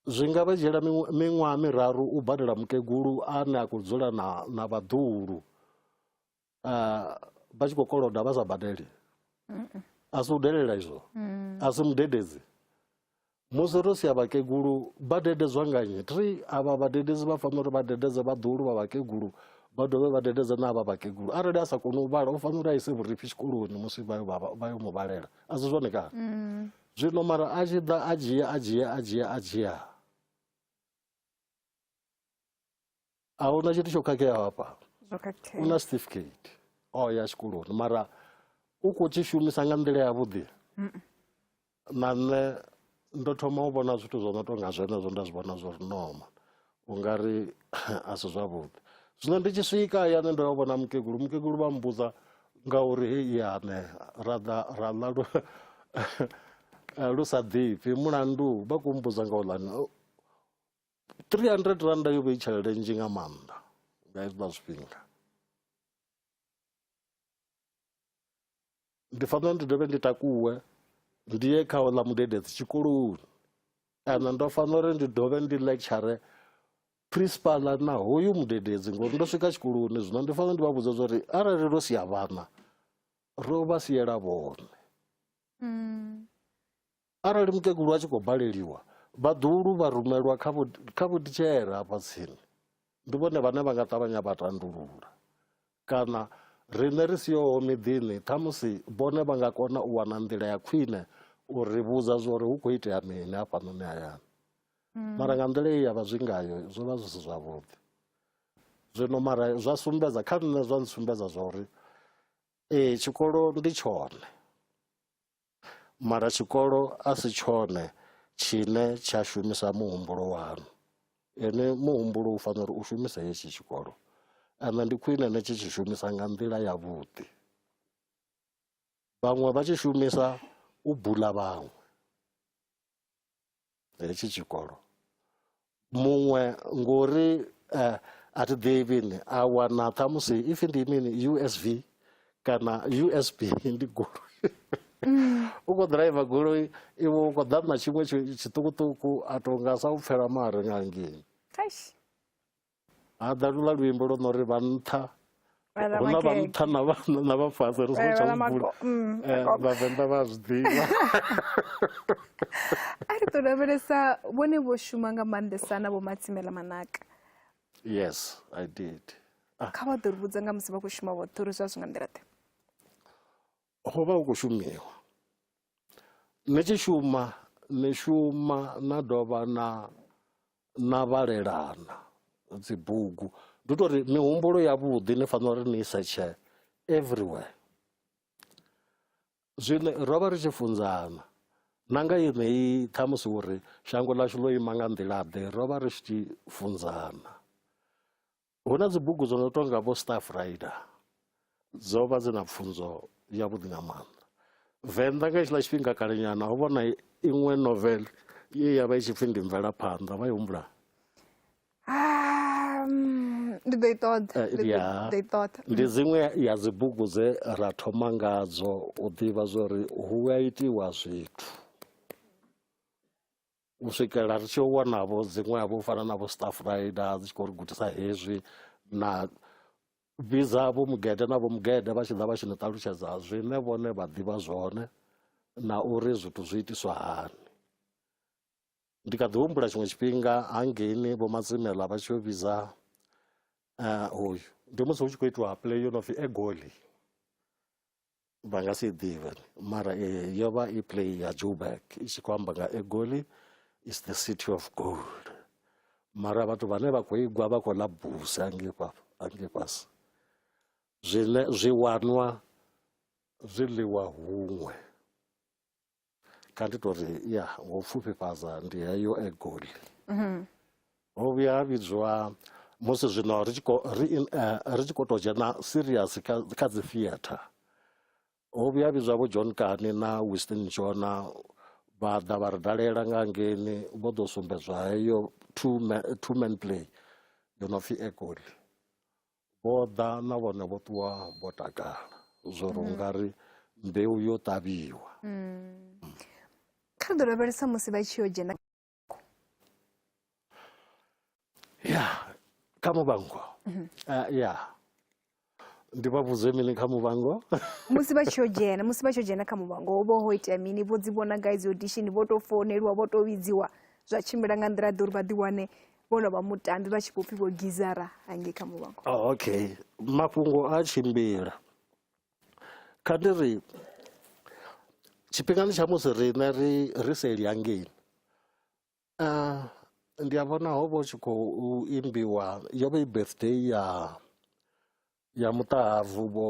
zwi nga vha dzhiela miṅwaha miraru u badela mukegulu ane a khou dzula na, na vhaḓuhulu uh, vha tshi khou koloda vha sa badeli a si u delela izwo mm. a si mudededzi musi ro sia vhakegulu vha dededzwa nga nnyi tri avha vhadededzi vha fanela uri vha dededze vhaḓulu vha vhakegulu vha dovhe vha dededze na avha vhakegulu arali a sa koni u vhala u fanela uri a ise vhurifhi tshikoloni musi vha yo mu vhalela a si zwone kana mm. zwino mara a tshi ḓa a dzhia a dzhia a dzhia a dzhia ahuna tshithu tsho khakheaho hafha u na certificate o oh, ya tshikoloni mara u khou tshi shumisa nga nḓila yavhuḓi na nṋe ndo thoma u vhona zwithu zwo no tou nga zwenezwo nda zwi vhona zwo ri noma u nga ri a si zwavhuḓi zwino ndi tshi swika yane ndo yo vhona mukegulu mukegulu vha mbudza ngauri he iyane ra ḓa ra ḽa lu sa ḓifhi mulandu vha khou mbudza nga u ḽani 300 randa yo vha i tshelede nzhi nga maanḓa nga hezwiḽa zwifhinga ndi fanela ndi dovhe ndi takuwe ndi ye kha oḽa mudededzi tshikoloni kana ndo fanela uri ndi dovhe ndi lecture principal na hoyu mudededzi ngori ndo swika tshikoloni zwino ndi fanela ndi vha vhudza zwa arali ro sia vhana ro vha siela vhone mm. Arali mukegulu a tshi khou baleliwa, vhaḓuhulu vha rumelwa kha vho kha vhotitshela afha tsini. Ndi vhone vhane vha nga ṱavhanya vha tandulula. Kana riṋe ri siho miḓini, ṱhamusi vhone vha nga kona u wana nḓila ya khwine u ri vhudza zwori hu khou itea mini hafhanoni hayani. Mara nga nḓila ye ya vha zwi ngayo zwo vha zwi si zwavhuḓi. Zwino mara zwa sumbedza kha nṋe zwa ntsumbedza zwa uri ee tshikolo ndi tshone. Mara tshikolo a si tshone tshine tsha shumisa muhumbulo wanu ene muhumbulo u fanela uri u shumise hetshi tshikolo and ndi khwine ni tshi tshi shumisa nga nḓila ya vhuḓi vhaṅwe vha tshi shumisa u bula vhaṅwe hetshi tshikolo muṅwe ngori uh, a thi ḓivhi ni a wana ṱhamusi if ndi mini usv kana usb ndi goloi mm. u khou ḓiraiva goloi iwe u khou ḓaṋa tshiṅwe tshiṱukuṱuku a tonga sa u pfela mare nga ngini ha ḓa lula luimbo lwo no ri vha nṱha hu na vha nṱha na vha fhasi ri songo tsha vula mm, eh, vhavenḓa vha zwi ḓivha a ri ḓo lavhelesa vhone vho shuma nga maanḓesa na vho matsimela manaka yes i did ah. kha vha ḓo ri vhudza nga musi vha khou shuma vhoṱhe uri zwa zwi nga nḓila ḓe ho vha hu khou shumiwa ni tshi shuma ni shuma na dovha na na vhalelana dzibugu ndi u tou ri mihumbulo yavhuḓi ni fanela uri ni i setshe everywhere zwine ro vha ri tshi funzana na nga yeneyi ṱhamusi uri shango ḽashu ḽo ima nga nḓila-ḓe ro vha ri tshi funzana Hu na dzibugu dzo no tonga vho Staff Rider dzo vha dzi na pfunzo yavhuḓi nga maanḓa venḓa nga hetshiḽa tshifhinga kalenyana ho vhona iṅwe novel ye ya vha i tshi pfhi ndi mvelaphanḓa vha i humbula ndi ḓo i ṱoḓa eh, ndi ḓo i ṱoḓa ndi mm. dziṅwe ya dzibugu dze ra thoma ngadzo u ḓivha zwori hu a itiwa zwithu u swikela ri tshi wanavho dziṅwevho u fana na vho staff rider dzi tshi khou ri gudisa hezwi na vhidza vho mugede na vho mugede vha tshi ḓa vha tshi ni ṱalutshedza zwine vhone vha ḓivha zwone na uri zwithu zwi itiswa hani ndi kha ḓi humbula tshiṅwe tshifhinga hangeini vho matsimela vha tshi yo vhidza eh, hoyu ndi musi hu tshi khou itiwa play yo no pfi egoli vha nga si ḓivhe mara yo vha i play ya joburg i tshi khou amba nga egoli is the city of gold mara vhathu vhane vha khou igwa vha khou ḽa busi angei fhasi zwine zwi wanwa zwi ḽiwa huṅwe kha ndi tori ya ngo pfufhifhadza ndi heyo egoli mhm. ho vhuya ha vhidzwa musi zwino ri tshi eh, khou tou dzhena serious kha dzi theatre ho vhuya ha vhidzwa vho john kani na winston jona vha ḓa vha ri dalela nga ngeni vho ḓo sumbedzwa heyo two man play yo no pfhi egoli Vho ḓa na vhone vho ṱuwa vho takala zwo ri mm. ungari mbeu yo ṱavhiwa mm. kha ri ḓo lavhelesa musi vha tshi yo dzhena ya kha muvhango mhm. eh, ya ndi vha vhudze mini kha muvhango musi vha tshi yo dzhena musi vha tshi yo dzhena kha muvhango ho vha ho itea mini vho dzi vhona gai dzi audition vho tou founeliwa vho tou vhidziwa zwa tshimbila nga nḓila ḓe uri vha ḓiwane vhono vha mutambi vha tshi vho pfhi vho gizara hangei kha muvhango oh, okay mafhungo a tshimbila kha ndi ri tshifhingani tsha musi riṋe ri ri seli hangei uh, ndi a vhona ho vha u tshi khou imbiwa yo vha i birthday ya ya muṱahabvu vho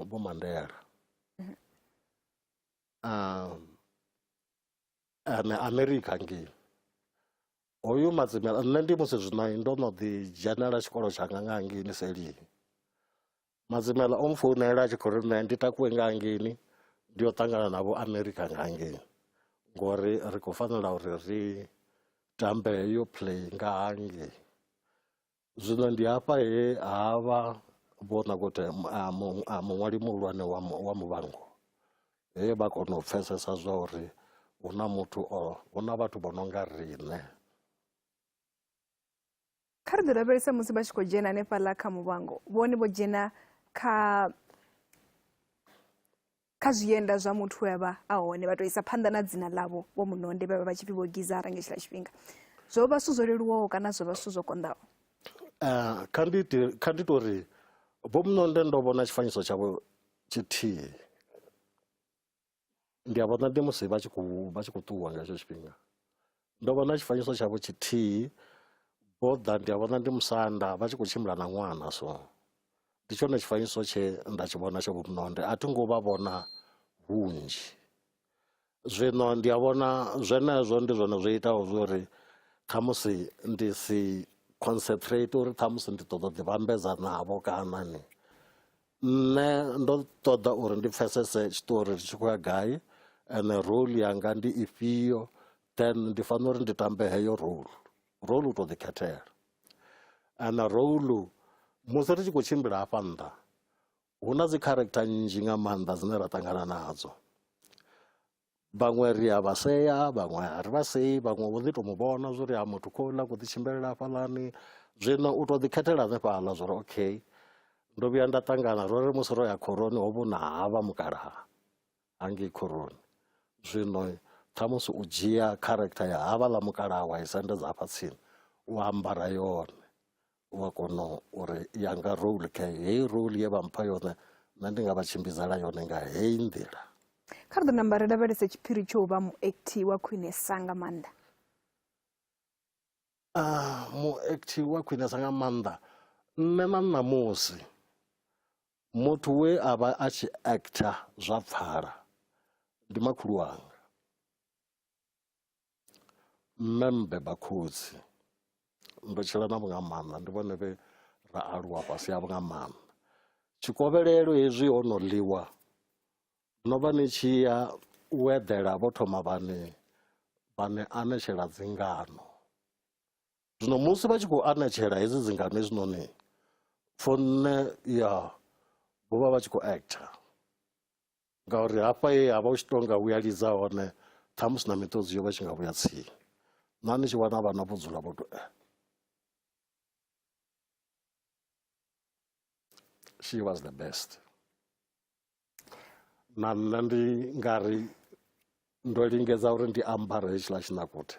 vho mandela mm-hmm. um, ane amerika ngei Hoyu Madzimela nṋe ndi musi zwino ndo no ḓi dzhenela tshikolo tshanga nga ngini selini Madzimela o mfounela a tshi khou ri nṋe ndi takuwe nga ngini ndi yo ṱangana na vho America nga ngini ngori ri khou fanela uri ri tambe yo play nga hangei Zwino ndi hafha he ha vha Vho Nakote muṅwali muhulwane wa Muvhango he vha kona u pfesesa zwa uri hu na muthu o hu na vhathu vho no nga riṋe. Kha ri ḓi lavhelese musi vha tshi khou dzhena hanefhaḽa kha Muvhango, vhone vho dzhena kha Kha zwienda zwa muthu we a vha a hone, vha tou isa phanḓa na dzina ḽavho Vho Munonde vhe vha vha tshi pfi Vho Gizara nga hetshiḽa tshifhinga. Zwo vha zwithu zwo leluwaho kana zwo vha zwithu zwo konḓaho? Kha ndi ite, kha ndi tou ri Vho Munonde ndo vhona tshifanyiso tshavho tshithihi. Ndi a vhona ndi musi vha tshi khou, vha tshi khou ṱuwa nga hetsho tshifhinga. Ndo vhona tshifanyiso tshavho tshithihi vho ḓa ndi a vhona ndi musanda vha tshi khou tshimbila na ṅwana so ndi tshone tshifanyiso tshe nda tshi vhona tsha vhumnonde a thi ngo vha vhona hunzhi zwino ndi a vhona zwenezwo ndi zwone zwo itaho zwori khamusi ndi si concentrate uri khamusi ndi ṱoḓa u ḓi vhambedza navho kana ni nṋe ndo ṱoḓa uri ndi pfesese tshiṱori tshi khou ya gai ene role yanga ndi ifhio then ndi fanela uri ndi tambe heyo role role u tou ḓikhethela ana role musi ri tshi khou tshimbila hafha nnḓa hu na dzi character nnzhi nga maanḓa dzine ra ṱangana nadzo vhaṅwe ri a vha sea vhaṅwe a ri vha sei vhaṅwe vho ḓi to mu vhona zwo ri a muthu khouḽa khou ḓi tshimbilela hafhaḽani zwino u to ḓi khethela hanefhaḽa zwo ri okay ndo vhuya nda ṱangana ro ri musi ro ya khoroni ho vhona havha mukalaha hangei khoroni zwino khamusi u dzhia character ya havhaḽa mukalaha wa i sendedza hafha tsini u ambara yone u a kona uri yanga role kha heyi role ye vha mpha yone nṋe ndi nga vha tshimbidzela yone nga heyi nḓila kha ri ḓo namba ri lavhelese tshiphiri tsho u vha muekthi wa khwinesa nga maanḓa a ah, muekthi wa khwinesa nga maanḓa nṋe na ṋamusi muthu we a vha a tshi actor zwa pfala ndi makhulu wanga Nṋe mmbiba khotsi ndo tshila na vhunga maanḓa ndi vhone vhe ra aluwa fhasi ha vhunga maanḓa tshikovhelelo hezwi ho no ḽiwa no vha ni tshi ya u eḓela vho thoma vhane vhane anetshela dzingano zwino musi vha tshi khou anetshela hedzi dzingano hezwinoni for nṋe ya vho vha vha tshi khou actor Ngauri hafha he ha vha hu tshi tou nga hu ya lidza hone, ṱhamusi na miṱodzi yo vha i tshi nga vhuya tsini. Na ni tshi wana vhana vho dzula vho tou eh. She was the best. Na nṋe ndi nga ri ndo lingedza uri ndi ambare hetshiḽa tshinakute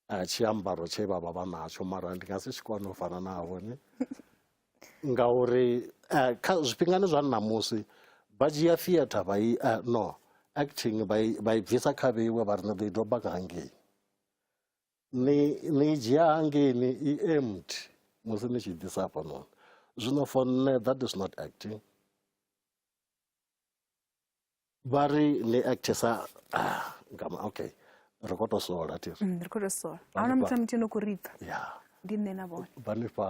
a tshiambaro tshe vha vha vha natsho mara ndi nga si tshi kone u fana navho ni ngauri eh, kha zwifhingani zwa ṋamusi vha dzhia theatre vha i eh, no acting vha i- vha i bvisa kha vheiwe vha ri ni ḓo i doba nga hangei ni ni i dzhia hangei ni i empty musi ni tshi ḓisa hafhanoni zwino for nṋe that is not acting vha ri ni actesa ah, ngama okay ri khou tou sola ti mm, ri khou tou sola a huna muthu na muthu no khou ri pfa ya ndi nṋe na vhone vha ni fha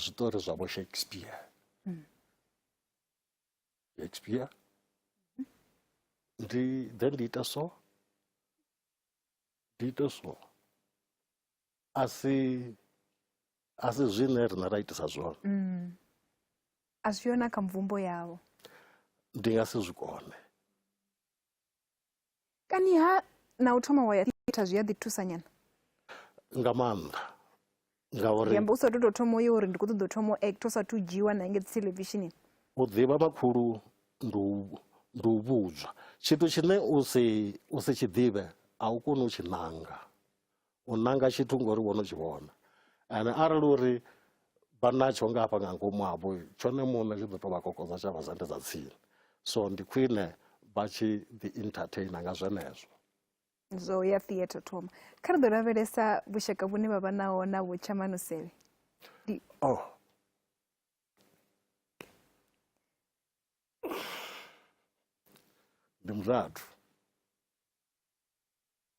zwiṱori zwa vho shakespeare mm. shakespeare ndi then ndi ita so ndi ita so a si a si zwine riṋe ra itisa zwone mm. a zwi yona kha mvumbo yavho ndi nga si zwi kone kani ha na u thoma wa ya theatha zwi a ḓi thusa nyana nga maanḓa ngauri u sa tu tou thoma uyo uri ndi khou ṱoḓa u thoma u act u sa tu dzhiwa na nge televisionini u ḓivha makhulu ndi u ndi u vhudzwa tshithu tshine u si u si tshi ḓivhe a u koni u tshi nanga u nanga tshithu ngori wo no tshi vhona and arali uri vha natsho nga hafha nga ngomu havho tshone muṋe tshi ḓo tou vha kokodza tsha vha zande dza tsini so ndi khwine vha tshi ḓi entertainer nga zwenezwo zwo ya theatre thoma kha ri ḓo lavhelesa vhushaka vhune vha vha naho na vhutshamanusevhe oh ndi murathu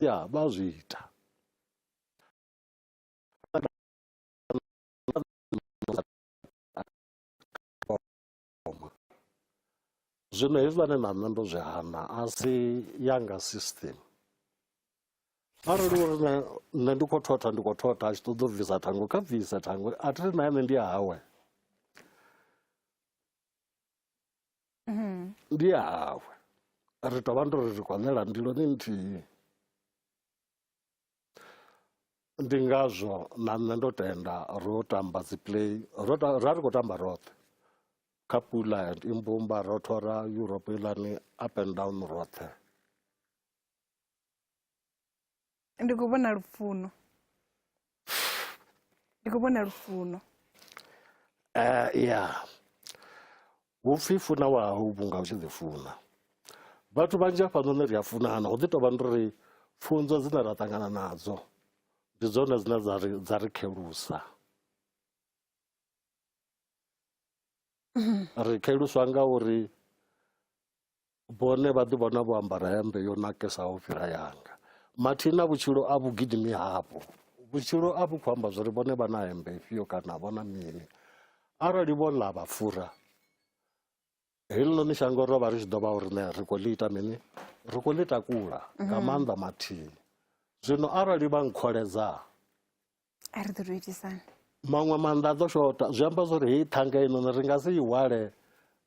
ya vha zwi ita zwino hezwiḽane na nṋe ndo zwi hana a si yanga system arali uri nṋe ndi khou thotha ndi khou thotha a tshi ṱoḓa u bvisa thango kha bvise thango a thi ri na ene ndi hawe mhm. ndi ya hawe ri tou vha ndo ri ri khou ṋela ndiloni nthihi ndi ngazwo na nṋe ndo tenda ro tamba dzi play ro ra ri khou tamba roṱhe kha pula and imbumba ro thora europe ilani up and down roṱhe ndi khou vhona lufuno ndi khou vhona lufuno uh, ya vhupfi funa wahau vhunga u tshi ḓi funa vhathu vhanzhi hafhanoni ri a funana hu ḓi tou vha ndi ri pfunzo dzine ra ṱangana nadzo ndi dzone dzine dza ri khelusa ri kheluswa nga uri Vhone vha ḓi vhona vho ambara hembe yo nakesaho u fhira yanga. Mathina vhutshilo a vhu gidimi havho. Vhutshilo a vhu khou amba zwa uri vhone vha na hembe ifhio kana vho na mini. Arali vho ḽa vha fura, heḽinoni shango ro vha ri tshi ḓo vha uri ne ri khou ḽi ita mini? Ri khou ḽi takula nga mhm. maanḓa mathini. Zwino arali vha nkholedza a ri ḓo tou itisana maṅwe maanḓa a ḓo shota zwi amba zwori heyi ṱhanga inoni ri nga si i hwale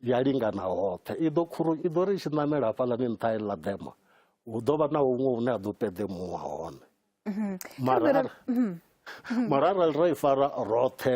ya lingana hoṱhe i ḓo khuru i ḓo ri i tshi ṋamela hafhaḽani nṱha i ḽa ḓema hu ḓo vha na huṅwe hune ha ḓo ṱeḓemuwa hone mhm. mara mhm. Mhm. mara arali ra i fara roṱhe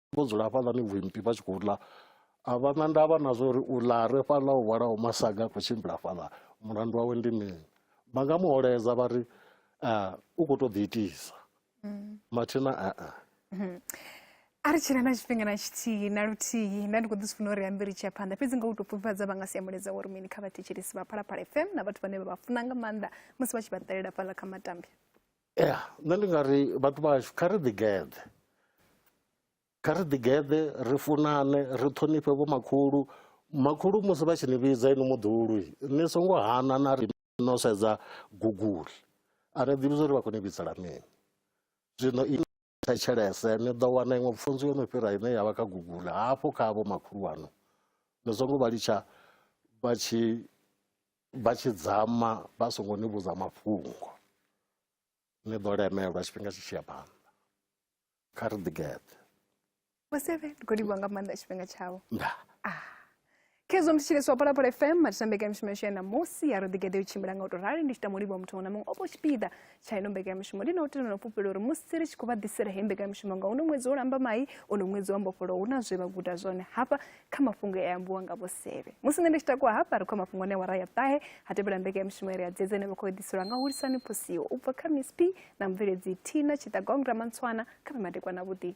vho dzula hafhaḽani vhuimpi vha tshi khou ḽa a vha na ndavha na zwa uri u ḽa re fhaḽa u hwalaho masaga a khou tshimbila fhaḽa mulandu wawe ndi mini vha nga muholedza vha ri ah, u khou tou ḓiitisa mm. mathina a a mm-hmm. a ri tshila na tshifhinga na tshithihi na luthihi nda ndi khou ḓi zwi funa uri ambe ri tshiya phanḓa fhedzi nga u tou pfufhifhadza vha nga si amuledza wori mini kha vhathetshelisi vha phalaphala fm na vhathu vhane vha vha funa nga maanḓa musi vha tshi vha ṱalela fhaḽa kha matambi ya nṋe ndi nga ri vhathu vhashu kha ri ḓigeḓe kha ri ḓigeḓe ri funane ri ṱhonifhe vho makhulu makhulu musi vha tshi ni vhidza inwi muḓulu ni songo hana na ri no sedza guguli a ni ḓivhi zwa uri vha khou ni vhidzela mini zwino thetshelese ni ḓo wana iṅwe pfunzo yo no fhira ine ya vha kha google hafho kha avho makhulu wanu ni songo vha litsha vha tshi vha tshi dzama vha songo ni vhudza mafhungo ni ḓo lemelwa tshifhinga tshi tshi ya phanḓa kha ri ḓigeḓe vho seve ndi khou livhuwa nga maanḓa tshifhinga tshavho ndaa ah. khezwo mthetshelesi wa phalaphala fm matisa mbekanyamishumo yashu ya ṋamusi ya ro ḓigede u tshimbila nga u tou rali ndi tshi tamo livhuwa muthu muṅwe na muṅwe o vho tshipiḓa tsha ino mbekanyamishumo ndi na u tenda na u fhufhela uri musi ri tshi khou vha ḓisela heyi mbekanyamishumo nga uno ṅwedzi wo lamba mai uno ṅwedzi wa mbofholo hu na zwe vha guda zwone hafha kha mafhungo e ambiwa nga vho seve musi nṋe ndi tshi takuwa hafha ri khou ya mafhungo ne wara ya ṱahe ha tevhela mbekanyamishumo ire ya dzedze ine vha khou eḓiselwa nga hulisani phosiwo u bva kha miss p na mubveledzi tina tshiṱagong ramantswana kha vhe madekwana vhuḓi